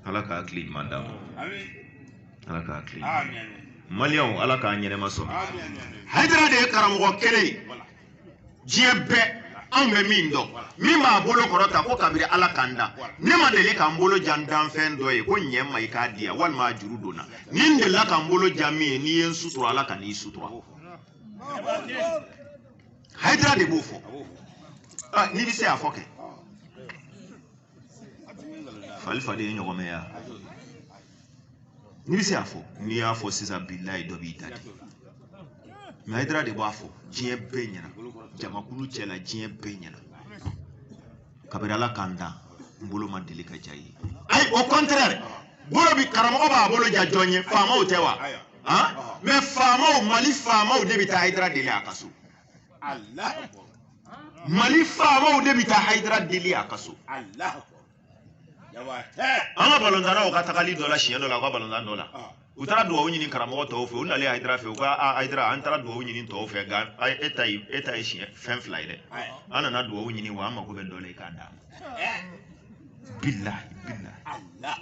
ala ka hakili ɲuman d'a ma ala ka hakili ɲuman maliyɛnw ala k'a ɲɛnɛma sɔrɔ hayidara de ye karamɔgɔ kelen ye diɲɛ bɛɛ anw bɛ min dɔn min b'a bolo kɔrɔta ko kabiri ala ka n da ne ma deli ka n bolo ja n danfɛn dɔ ye ko ɲɛ ma i k'a di yan walima a juru don n na ni n delila ka n bolo ja min ye n'i ye n sutura ala kan'i sutura hayidara de b'o fɔ n'i bɛ se a fɔ kɛ fali faden ye ɲɔgɔn mɛn ya n'i bɛ se a fɔ n'i y'a fɔ sisan bilayi dɔ b'i da de mɛ hayidara de b'a fɔ diɲɛ bɛɛ ɲɛna jamakulu cɛ la diɲɛ bɛɛ ɲɛna kabini ala ka n dan n bolo ma deli ka ja ye ayi au contraire bolo bi karamɔgɔ b'a bolo ja jɔn ye faamaw tɛ wa mɛ faamaw mali faamaw de bɛ taa hayidara deli a ka so mali faamaw de bɛ taa hayidara deli a ka so an ka balontannaw ka tagali dɔ la siɲɛ dɔ la u ka balontan dɔ la u taara dugawu ɲini karamɔgɔ tɔw fɛ u nalen hayidara fɛ u ko hayidara an taara dugawu ɲini tɔw fɛ nka e ta ye e ta ye siɲɛ fɛn fila ye dɛ an nana dugawu ɲini wa an mako bɛ dɔ la i k'a d'an ma bilahi bilahi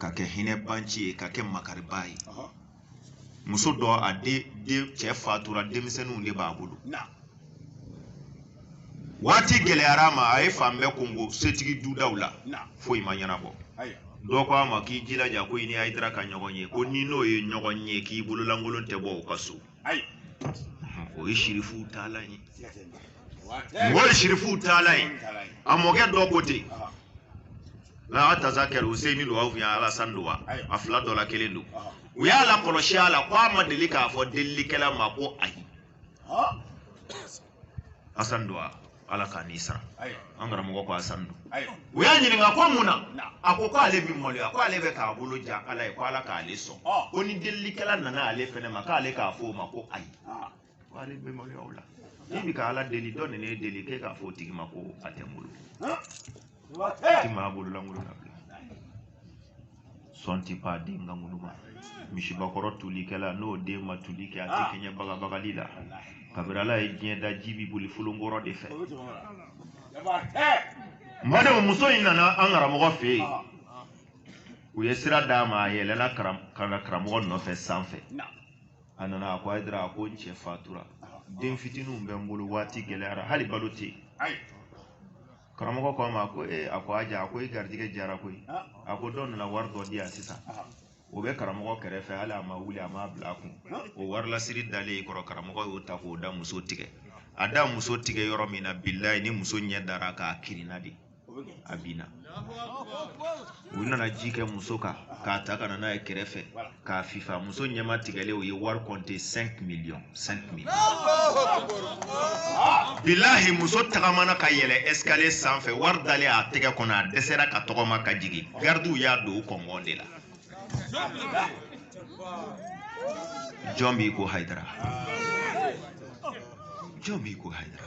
ka kɛ hinɛbaanci ye ka kɛ makaribaa ye muso dɔ a den den cɛ fatura denmisɛnninw de b'a bolo waati gɛlɛyara a ma a ye fan bɛɛ konko setigi dudaw la foyi ma ɲɛnabɔ dɔ ko a ma k'i jilaja ko i ni Ayidara ka ɲɔgɔn ye ko n'i n'o ye ɲɔgɔn ye k'i bololankolon tɛ bɔ o ka so ayi o ye sirifuw taala ye mɔgɔ ye sirifuw taala ye a mɔkɛ dɔ ko ten n'a y'a tasa kɛra useyini don wa u y'a alasan don wa a fila dɔ la kelen don u y'a lakɔlɔsi a la ko a ma deli k'a fɔ delilikɛla ma ko ayi asan don wa ala k'a n'i sara an karamɔgɔ ko asani don u y'a ɲininka ko mun na a ko ko ale bi maloya ko ale bɛ k'a bolo ja ala ye ko ala k'ale sɔn ko ni delilikɛla nana ale fɛnɛ ma k'ale k'a fɔ o ma ko ayi ko ale bɛ maloya o la n'i bi ka ala deli dɔ nana e deli k'e k'a fɔ o tigi ma ko a tɛ n bolo ti maa bololankolon nabila sɔn ti pan a den ka ŋunuma misibakɔrɔ tulikɛla n'o den ma tuli kɛ a tɛ ah. kɛɲɛ bagabagali la kabiri ala ye diɲɛ da ji bi boli folonkɔrɔ de fɛ n badenw muso in nana an karamɔgɔ fɛ yen ah. u ye sira d'a ma a yɛlɛla karamɔgɔ nɔfɛ sanfɛ a nana a ko hayidara a ko n cɛ fatura ah. den fitininw bɛ n bolo waati gɛlɛyara hali balo tɛ yen karamɔgɔ ko a ma ko ee a ko aja a ko i garijɛgɛ diyara koyi a ko dɔ nana wari dɔ di yan sisan o bɛ karamɔgɔ kɛrɛfɛ hali a ma wuli a ma bila a kun o wari lasiri dalen kɔrɔ karamɔgɔ y'o ta k'o da muso tigɛ a da muso tigɛ yɔrɔ min na bilayi ni muso ɲɛ dara a kan a kirinna de a binna u nana ji kɛ muso kan k'a ta ka na n'a ye kɛrɛfɛ k'a fifa muso ɲɛma tigɛlen u ye wari kɔnte 5 miliyɔn 5 miliyɔn bilahi muso tagamana ka yɛlɛ escalier sanfɛ wari dalen a tɛgɛ kɔnɔ a dɛsɛra ka tɔgɔma ka jigin gardiw y'a don u kɔngɔn de la jɔn b'i ko hayidara jɔn b'i ko hayidara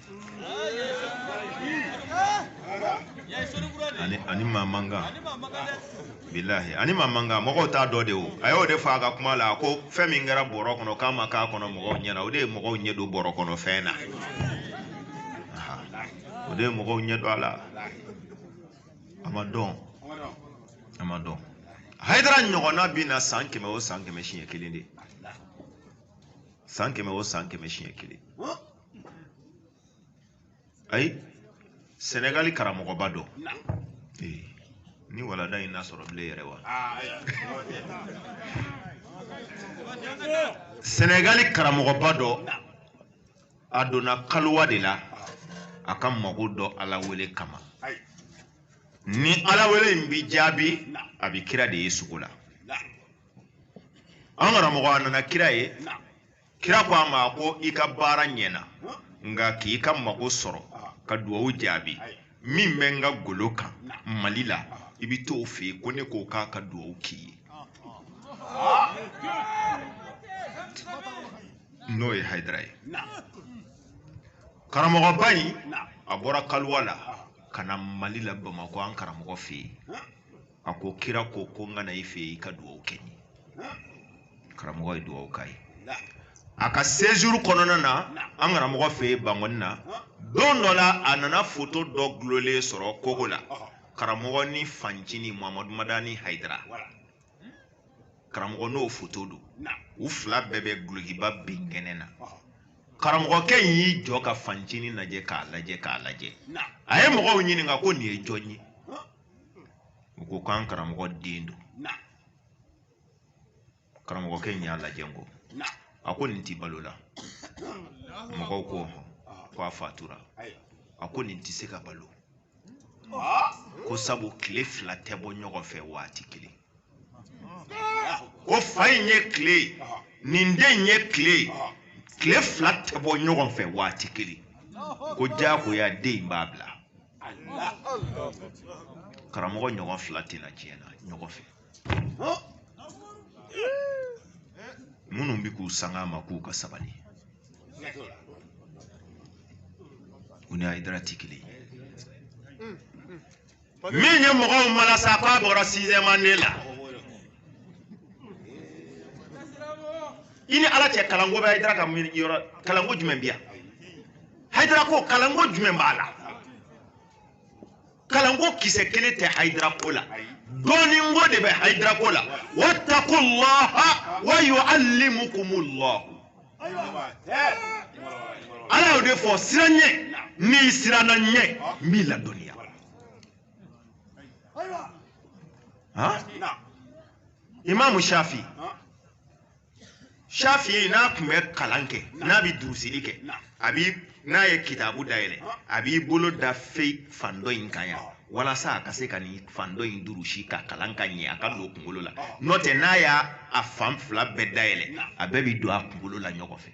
a ni a ni maa man kan bilahi a ni maa man kan mɔgɔw t'a dɔn de o a y'o de fɔ a ka kuma la ko fɛn min kɛra bɔrɔ kɔnɔ k'a ma k'a kɔnɔ mɔgɔw ɲɛna o de ye mɔgɔw ɲɛ don bɔrɔ kɔnɔ fɛn na o de ye mɔgɔw ɲɛ don a la a ma dɔn a ma dɔn hayidara ɲɔgɔnna bɛ na san kɛmɛ o san kɛmɛ siɲɛ kelen de san kɛmɛ o san kɛmɛ siɲɛ kelen ayi sɛnɛgali karamɔgɔba dɔ ni walada in na sɔrɔ bilen yɛrɛ wa sɛnɛgali karamɔgɔba dɔ a donna kalowa de la a ka mago dɔ ala wele kama ni ala wele in bi jaabi a bi kira de ye sugo la an karamɔgɔ a nana kira ye kira ko a ma ko i ka baara ɲɛna nka k'i ka mago sɔrɔ ka duwawu jaabi min bɛ n ka golo kan mali la i bɛ t'o fɛ yen ko ne ko k'a ka duwawu k'i ye n'o ye hayidara ye karamɔgɔba in a bɔra kaliwa la ka na mali la bamakɔ an karamɔgɔ fɛ yen a ko kira ko ko n ka na i fɛ yen i ka duwawu kɛ n ye karamɔgɔ ye dugawu k'a ye a ka sejuru kɔnɔna na an karamɔgɔ fɛ yen bankɔni na don dɔ la a nana foto dɔ dulonnen sɔrɔ kogo la karamɔgɔ ni fancini mahamadu madani hayidara karamɔgɔ n'o foto don u fila bɛɛ bɛ dulokiba bin kɛnɛ na karamɔgɔkɛ in y'i jɔ ka fancini lajɛ k'a lajɛ k'a lajɛ a ye mɔgɔw ɲininka ko nin ye jɔn ye u ko k'an karamɔgɔ den don karamɔgɔkɛ in y'a lajɛ ko a ko nin tɛ balo la mɔgɔw ko ko a fatura a ko nin tɛ se ka balo ko sabu tile fila tɛ bɔ ɲɔgɔn fɛ waati kelen ko fa in ye tile ye den in ye tile ye tile fila tɛ bɔ ɲɔgɔn fɛ waati kelen ko diyagoya den in b'a bila karamɔgɔ ɲɔgɔn fila tɛ na diɲɛ na ɲɔgɔn fɛ minnu bɛ k'u sanga a ma k'u ka sabali u ni hayidara tɛ kelen min ye mɔgɔw mara sa k'a bɔra sizɛmu ane la i ni ala cɛ kalanko bɛ hayidara ka yɔrɔ kalanko jumɛn bɛ yan hayidara ko kalanko jumɛn b'a la kalanko kisɛ kelen tɛ hayidara ko la dɔnniko de bɛ hayidara ko la watakulaha wa yu'allimukumullahu ala y'o de fɔ siran n ɲɛ n'i siranna n ɲɛ n b'i ladɔnniya imaamu shafi shafi n'a tun bɛ kalan kɛ n'a bɛ durusili kɛ a bi n'a ye kitabu dayɛlɛ a b'i bolo da fɛyi fan dɔ in kan yan walasa a ka se ka nin fan dɔ in durusi ka kalan ka ɲɛ a ka don kunkolo la n'o tɛ n'a y'a a fan fila bɛɛ dayɛlɛ a bɛɛ bi don a kunkolo la ɲɔgɔn fɛ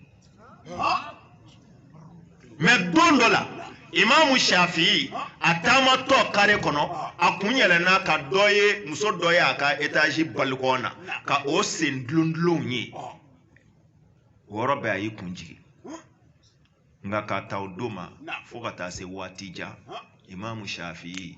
mɛ don dɔ la imamu shafi'i a taamatɔ kare kɔnɔ a kun yɛlɛnna ka dɔ ye muso dɔ ye a ka etazi balikɔn na ka o sen dulondulonw ye o yɔrɔ bɛɛ a y'i kun jigin nka k'a ta o don ma fo ka taa se waati jan imamu shafi'i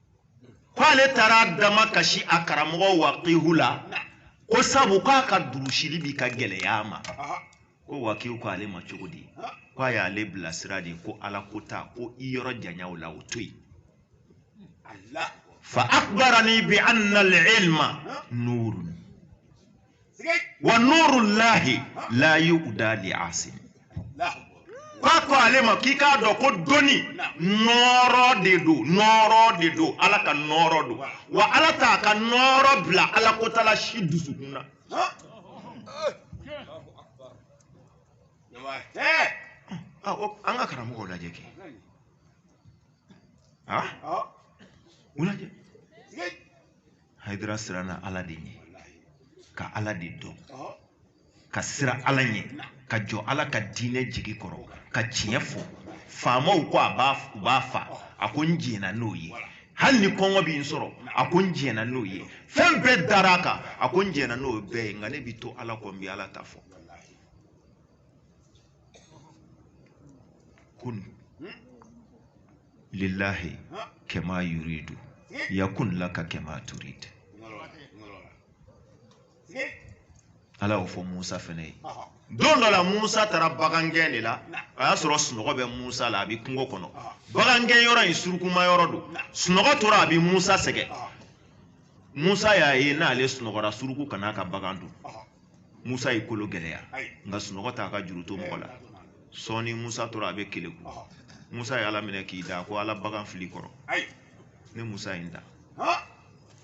k'ale taara damakasi a karamɔgɔ wakihu la ko sabu k'a ka durusili bi ka gɛlɛya a ma ko wakihu ko ale ma cogo di ko a y'ale bilasira de ko ala ko ta ko i yɔrɔ janya u la o to yen fa akbarani bi anna al-ilma nurun wa nurullahi la yu'da li asim k'a ko ale ma k'i k'a dɔn ko dɔnni nɔɔrɔ de don nɔɔrɔ de don ala ka nɔɔrɔ don wa ala t'a ka nɔɔrɔ bila ala kotala si dusukun na Ah, o- an ka karamɔgɔw lajɛ kɛ Ah, u lajɛ hayidara siranna ala de ɲɛ ka ala de dɔn ka siran ala ɲɛ ka jɔ ala ka diinɛ jigi kɔrɔ ka tiɲɛ fɔ faamaw ko a b'a u b'a fa a ko n jɛnna n'o ye hali ni kɔngɔ b'i sɔrɔ a ko n jɛnna n'o ye fɛn bɛɛ dara a kan a ko n jɛnna n'o bɛɛ ye nka ne bɛ to ala kɔ n bɛ ala ta fɔ kun lillahi kama yuridu yakun laka kama turid ala y'o fɔ musa fɛnɛ ye don dɔ la musa taara bagangɛn de la a y'a sɔrɔ sunɔgɔ bɛ musa la a bɛ kungo kɔnɔ bagangɛn yɔrɔ in surukuma yɔrɔ don sunɔgɔ tora a bɛ musa sɛgɛn musa y'a ye n'ale sunɔgɔra suruku kan'a ka bagan dun musa y'i kolo gɛlɛya nka sunɔgɔ t'a ka juru to mɔgɔ la sɔɔni musa tora a bɛ keleku musa ye ala minɛ k'i da ko ala bagan filɛ i kɔrɔ ne musa ye n da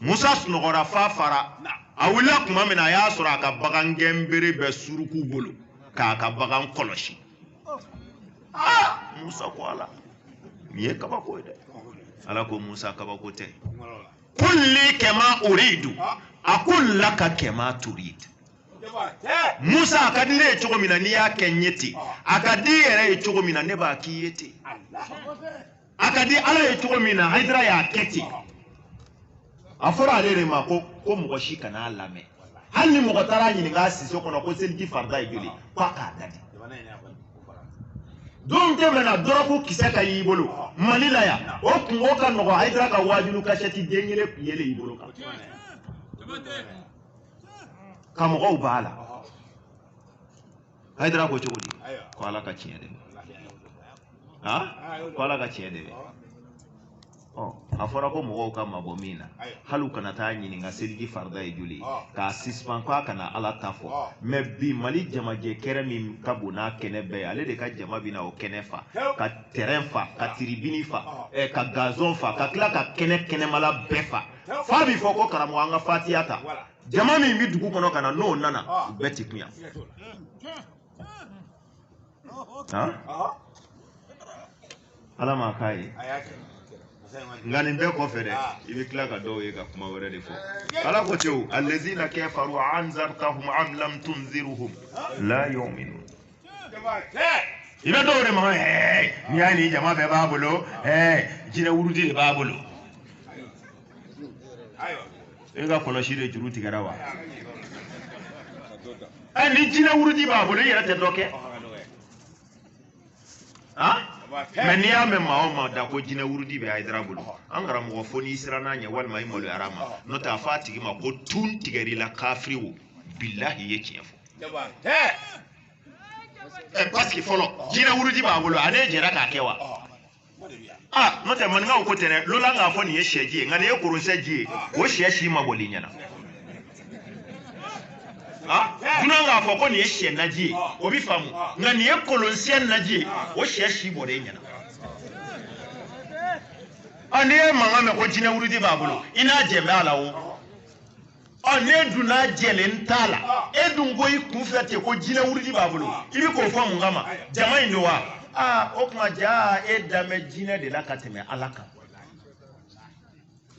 musa sunɔgɔra f'a fara a wulila tuma min na a y'a sɔrɔ a ka bagan gɛnbere bɛ suruku bolo k'a ka bagan kɔlɔsi musa ko ala nin ye kabako ye dɛ ala ko musa kabako tɛ kun li kama uridu akun laka kama turid musa a ka di ne ye cogo min na n'i y'a kɛ n ye ten a ka di i yɛrɛ ye cogo min na ne b'a k'i ye ten a ka di ala ye cogo min na hayidara y'a kɛ ten a fɔra ale de ma ko ko mɔgɔ si kana a lamɛn hali ni mɔgɔ taara a ɲininka a siso kɔnɔ ko seliji farida ye joli ko a k'a dadi don tuma min na dɔrɔgu kisɛ ka y'i bolo mali la yan o kunko ka nɔgɔ hayidara ka waajulu kasɛti den kelen kun yelen y'i bolo kan ka mɔgɔw b'a la hayidara ko cogo di ko ala ka tiɲɛ dɛmɛ ko ala ka tiɲɛ dɛmɛ a fɔra ko mɔgɔw ka mabɔ min na hali u kana taa ɲininka seliji farida ye joli ye k'a sispan ko a kana ala ta fɔ mɛ bi mali jamajɛ kɛnɛ min ka bon n'a kɛnɛ bɛɛ ye ale de ka jama bɛna o kɛnɛ fa ka tɛrɛn fa ka tiribini fa ka gazɔn fa ka tila ka kɛnɛ kɛnɛmala bɛɛ fa f'a bɛ fɔ ko karamɔgɔ an ka fatiya ta jama min bɛ dugu kɔnɔ ka na n'o nana u bɛɛ tɛ kun yan ala m'a k'a ye nka nin bɛɛ kɔfɛ dɛ i bɛ tila ka dɔw ye ka kuma wɛrɛ de fɔ ala ko tew alazina kafaru anzartahum am lam tunziruhum la yu'minun i bɛ dɔw de ma ɛɛ n'i y'a ye nin jama bɛɛ b'a bolo ɛɛ jinɛ wurudi de b'a bolo e ka kɔlɔsi de juru tigɛra wa ɛ ni jinɛ wurudi b'a bolo i yɛrɛ tɛ dɔ kɛ mɛ n'i y'a mɛn maa o maa da ko jinɛ wurudi bɛ ayidara bolo an karamɔgɔ fo n'i sirann'a ɲɛ walima i maloyar'a ma n'o tɛ a fɔ a tigi ma ko tun tigɛr'i la kafiri wo bilahi i ye tiɲɛ fɔ ɛ pasiki fɔlɔ jinɛ wurudi b'a bolo a n'e jɛra k'a kɛ wa a n'o tɛ maninkaw ko tɛ dɛ lolan k'a fɔ nin ye sɛji ye nka nin ye kolonsɛ ji ye o sɛ si ma bɔ i ɲɛ na dunan k'a fɔ ko nin ye sɛ naji ye o bɛ faamu nka nin ye kolonsɛ naji ye o sɛ si bɔlen i ɲɛ na n'i ye mankan mɛn ko jinɛ wurudi b'a bolo i n'a jɛlen bɛ a la o ɔ ne dun n'a jɛlen t'a la ah. e dun ko i kun fɛ ten ko jinɛ wurudi b'a bolo ah. i bɛ k'o fɔ mun kama jama in don wa aa o tuma jaa e dalen bɛ jinɛ de la ka tɛmɛ ala kan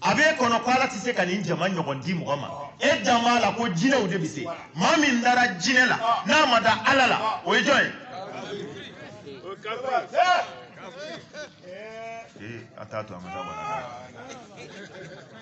a b'e kɔnɔ ko ala tɛ se ka nin jama ɲɔgɔn di mɔgɔ ma e dalen b'a la ko jinɛw de bɛ se maa min dara jinɛ la ah. n'a ma da ala la o ye jɔn ye. Eh, a t'a to a ma taa wala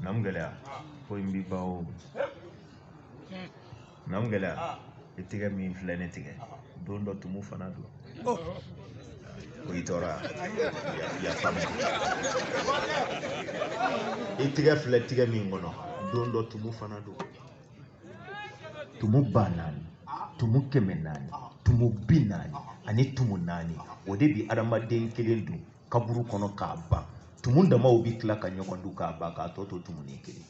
nam gɛlɛya ko in b'i ba o nam gɛlɛya i tigɛ min filɛ ne tigɛ don dɔ tumu fana don ko i tɔɔrɔ yafa ma i tigɛ filɛ tigɛ min kɔnɔ don dɔ tumu fana don tumu ba naani tumu kɛmɛ naani tumu bi naani ani tumu naani o de bi adamaden kelen dun kaburu kɔnɔ k'a ban tumu damaw bɛ tila ka ɲɔgɔn dun k'a ban k'a tɔ to tumunin kelen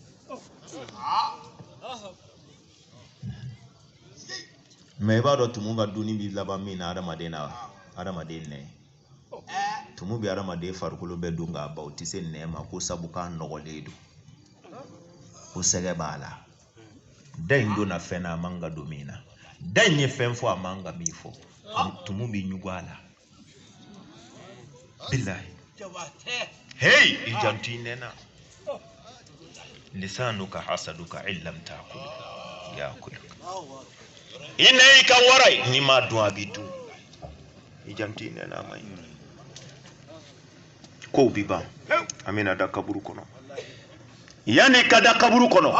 mɛ i b'a dɔn tumu ka dunni bɛ laban min na adamaden na adamaden nɛn tumu bɛ adamaden farikolo bɛɛ dun k'a ban o tɛ se nɛn ma ko sabu k'a nɔgɔlen don ko sɛgɛ b'a la da in donna fɛn na a man ka don min na da in ye fɛn fɔ a man ka min fɔ tumu bɛ ɲugu a la billahi hey i janto i nɛn na lisanuka hasaduka illam takul yakuluka i nɛn y'i ka wara ye n'i m'a dun a b'i dun i janto i nɛn na a man ɲi kow bi ban an bɛna da kaburu kɔnɔ yanni ka da kaburu kɔnɔ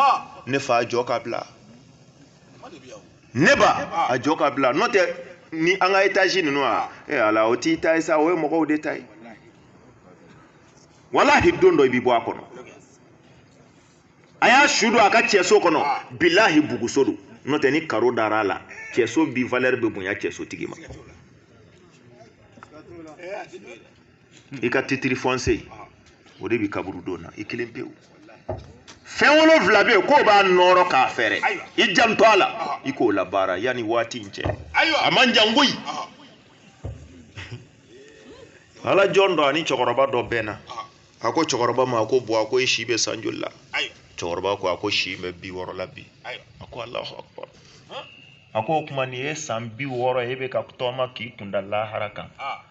ne fa jɔ k'a bila ne ba a jɔ k'a bila n'o tɛ ni an ka etazi ninnu a e ala o t'i ta ye sa o ye mɔgɔw de ta ye walahi don dɔ i bɛ bɔ a kɔnɔ a y'a su don a ka cɛso kɔnɔ bilahi buguso don n'o tɛ ni karo dara a la cɛso bi valɛri bɛ bonya cɛsotigi ma i ka titiri fɔnse o de bi kaburudo na i kelen pewu fɛn wolonfila bɛ yen k'o b'a nɔɔrɔ k'a fɛrɛ i janto a la i k'o labaara yan ni waati in cɛ a man jan koyi ala jɔn dɔ ani cɛkɔrɔba dɔ bɛnna a ko cɛkɔrɔba ma a ko bɔ a ko i si bɛ san joli la cɛkɔrɔba ko a ko si bɛ bi wɔɔrɔ la bi a ko alahu akubar a ko o tuma nin ye san bi wɔɔrɔ ye e bɛ ka tɔɔma k'i kunda lahara kan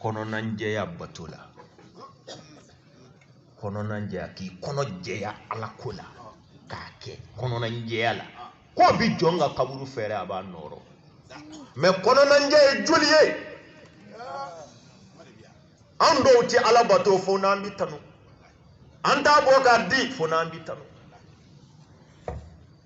kɔnɔnajɛya bato la kɔnɔnajɛya k'i kɔnɔ jɛya ala ko la k'a kɛ kɔnɔnajɛya la k'o bi jɔn ka kaburu fɛrɛ a b'a nɔɔrɔ mɛ kɔnɔnajɛ ye joli ye an dɔw tɛ ala bato fo n'an bi tanu an t'a bɔ k'a di fo n'an bi tanu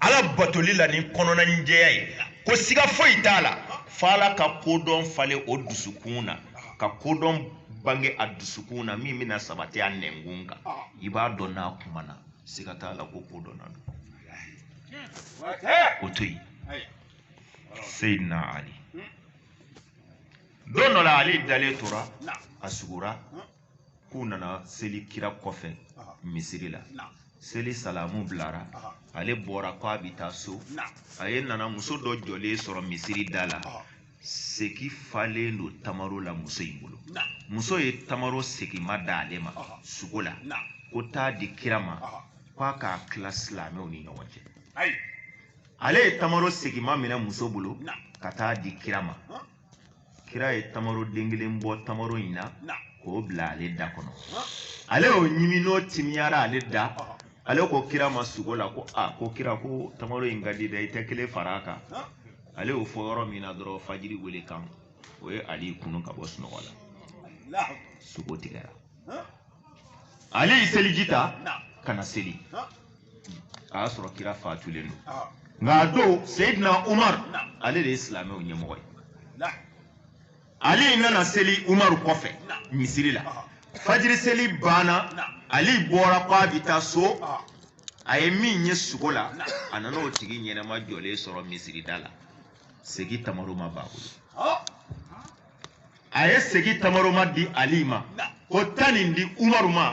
ala batoli la ni kɔnɔnajɛya ye ko siga foyi t'a la fo ala ka kodɔn falen o dusukun na ka kodɔn bange a dusukun na min bɛna sabati a nɛnkun kan i b'a dɔn n'a kuma na siga t'a la ko kodɔnna don o to yen seyidina ali don dɔ la ale dalen tora a sugora k'u nana seli kira kɔfɛ misiri la seli salamu bilara ale bɔra ko a bɛ taa so ale nana muso dɔ jɔlen sɔrɔ misiri da la segi falen don tamaro la muso in bolo muso ye tamaro segima d'ale ma sugo la ko t'a di kira ma k'a k'a tila silamɛw ni ɲɔgɔn cɛ ale ye tamaro segima minɛ muso bolo ka t'a di kira ma kira ye tamaro den kelen bɔ tamaro in na k'o bila ale da kɔnɔ ale y'o ɲimi n'o timiyara ale da ale ko kira ma sugo la ko a ko kira ko tamaro in ka di dɛ i tɛ kelen fara a kan ale y'o fɔ yɔrɔ min na dɔrɔn fajiri wele kan o ye ali kunun ka bɔ sunɔgɔ la sugo tigɛra ali ye seliji ta ka na seli a y'a sɔrɔ kira fatulen don ah. nka a don seyidina umar ale de ye silamɛw ɲɛmɔgɔ ye ali nana seli umaru kɔfɛ misiri la ah. fajiri seli banna ali bɔra ko a bɛ taa so ah. a ye min ye sugo la a nana o tigi ɲɛnama jɔlen sɔrɔ misirida la segi tamaroma b'a bolo a ye segi tamaroma di ali ma ko taa nin di umaru ma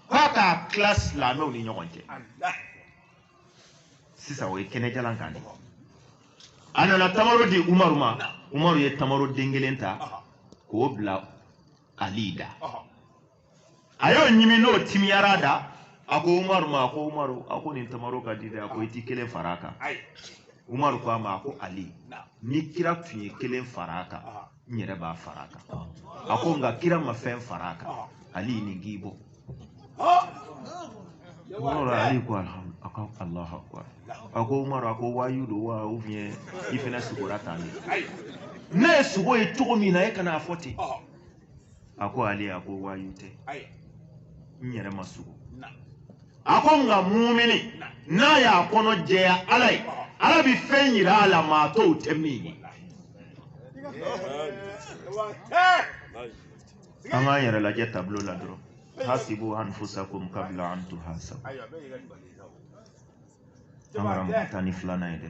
k'a k'a tila silamɛw ni ɲɔgɔn cɛ sisan o ye kɛnɛjalan kan de a nana tamaro di umaru ma umaru ye tamaro den kelen ta k'o bila ali da a y'o ɲimi n'o timiyara a da a ko umaru ma a ko umaru a ko nin tamaro ka di dɛ a ko i ti kelen fara a kan ayi umaru ko a ma a ko ali ni kira tun ye kelen fara a kan ah n yɛrɛ b'a fara a kan a ko nka kira ma fɛn fara a kan ah ali nin k'i bɔ ah umaru ali ko alhamdu a ko alahu akbar a ko umaru a ko wayu don wa ou bien i fana sugora tan de ayi ne ye sugo ye cogo min na e ka na a fɔ ten ah a ko ali a ko wayu tɛ ayi n yɛrɛ ma sugo a ko nka mumini n'a y'a kɔnɔ jɛya ala ye ala bɛ fɛn yira a la maa tɔw tɛ min ye wa tɛ an k'an yɛrɛ lajɛ tablo la dɔrɔn hasibu anfusakum kabla an tuhasabu ayiwa bɛɛ y'i ka nin bali sa o an kana mɔgɔ tan ni filanan ye dɛ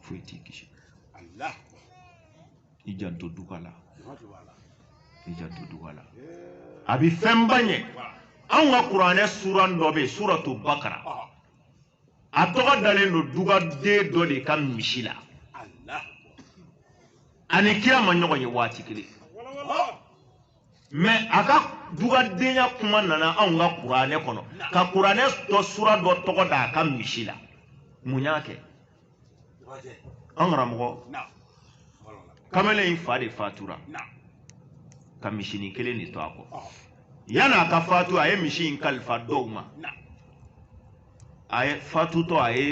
foyi t'i kisi i janto duga la i janto duga la a bɛ fɛnba ɲɛ anw ka kuranɛ suran dɔ bɛ yen suratu bakara a tɔgɔ dalen don dugaden dɔ de ka misi la a ni kira ma ɲɔgɔn ye waati kelen mais a ka dugadenya kuma nana anw ka kuranɛ kɔnɔ ka kuranɛ dɔ sura dɔ tɔgɔ da a ka misi la mun y'a kɛ an karamɔgɔ kamalen in fa de fatura ka misinin kelen de to a kɔ yan'a ka fatu a ye misi in kalifa dɔw ma a ye fatutɔ a ye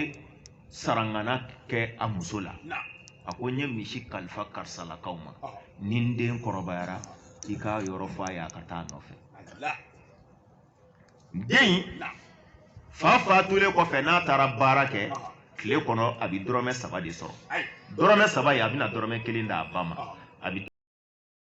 sarangana kɛ a muso la a ko n ye misi kalifa karisalakaw ma ni n den kɔrɔbayara i ka yɔrɔ fɔ a ye a ka taa a nɔfɛ den fa fatulen kɔfɛ n'a taara baara kɛ tile kɔnɔ a bɛ dɔrɔmɛ saba de sɔrɔ dɔrɔmɛ saba ye a bɛna dɔrɔmɛ kelen d'a ba ma a bɛ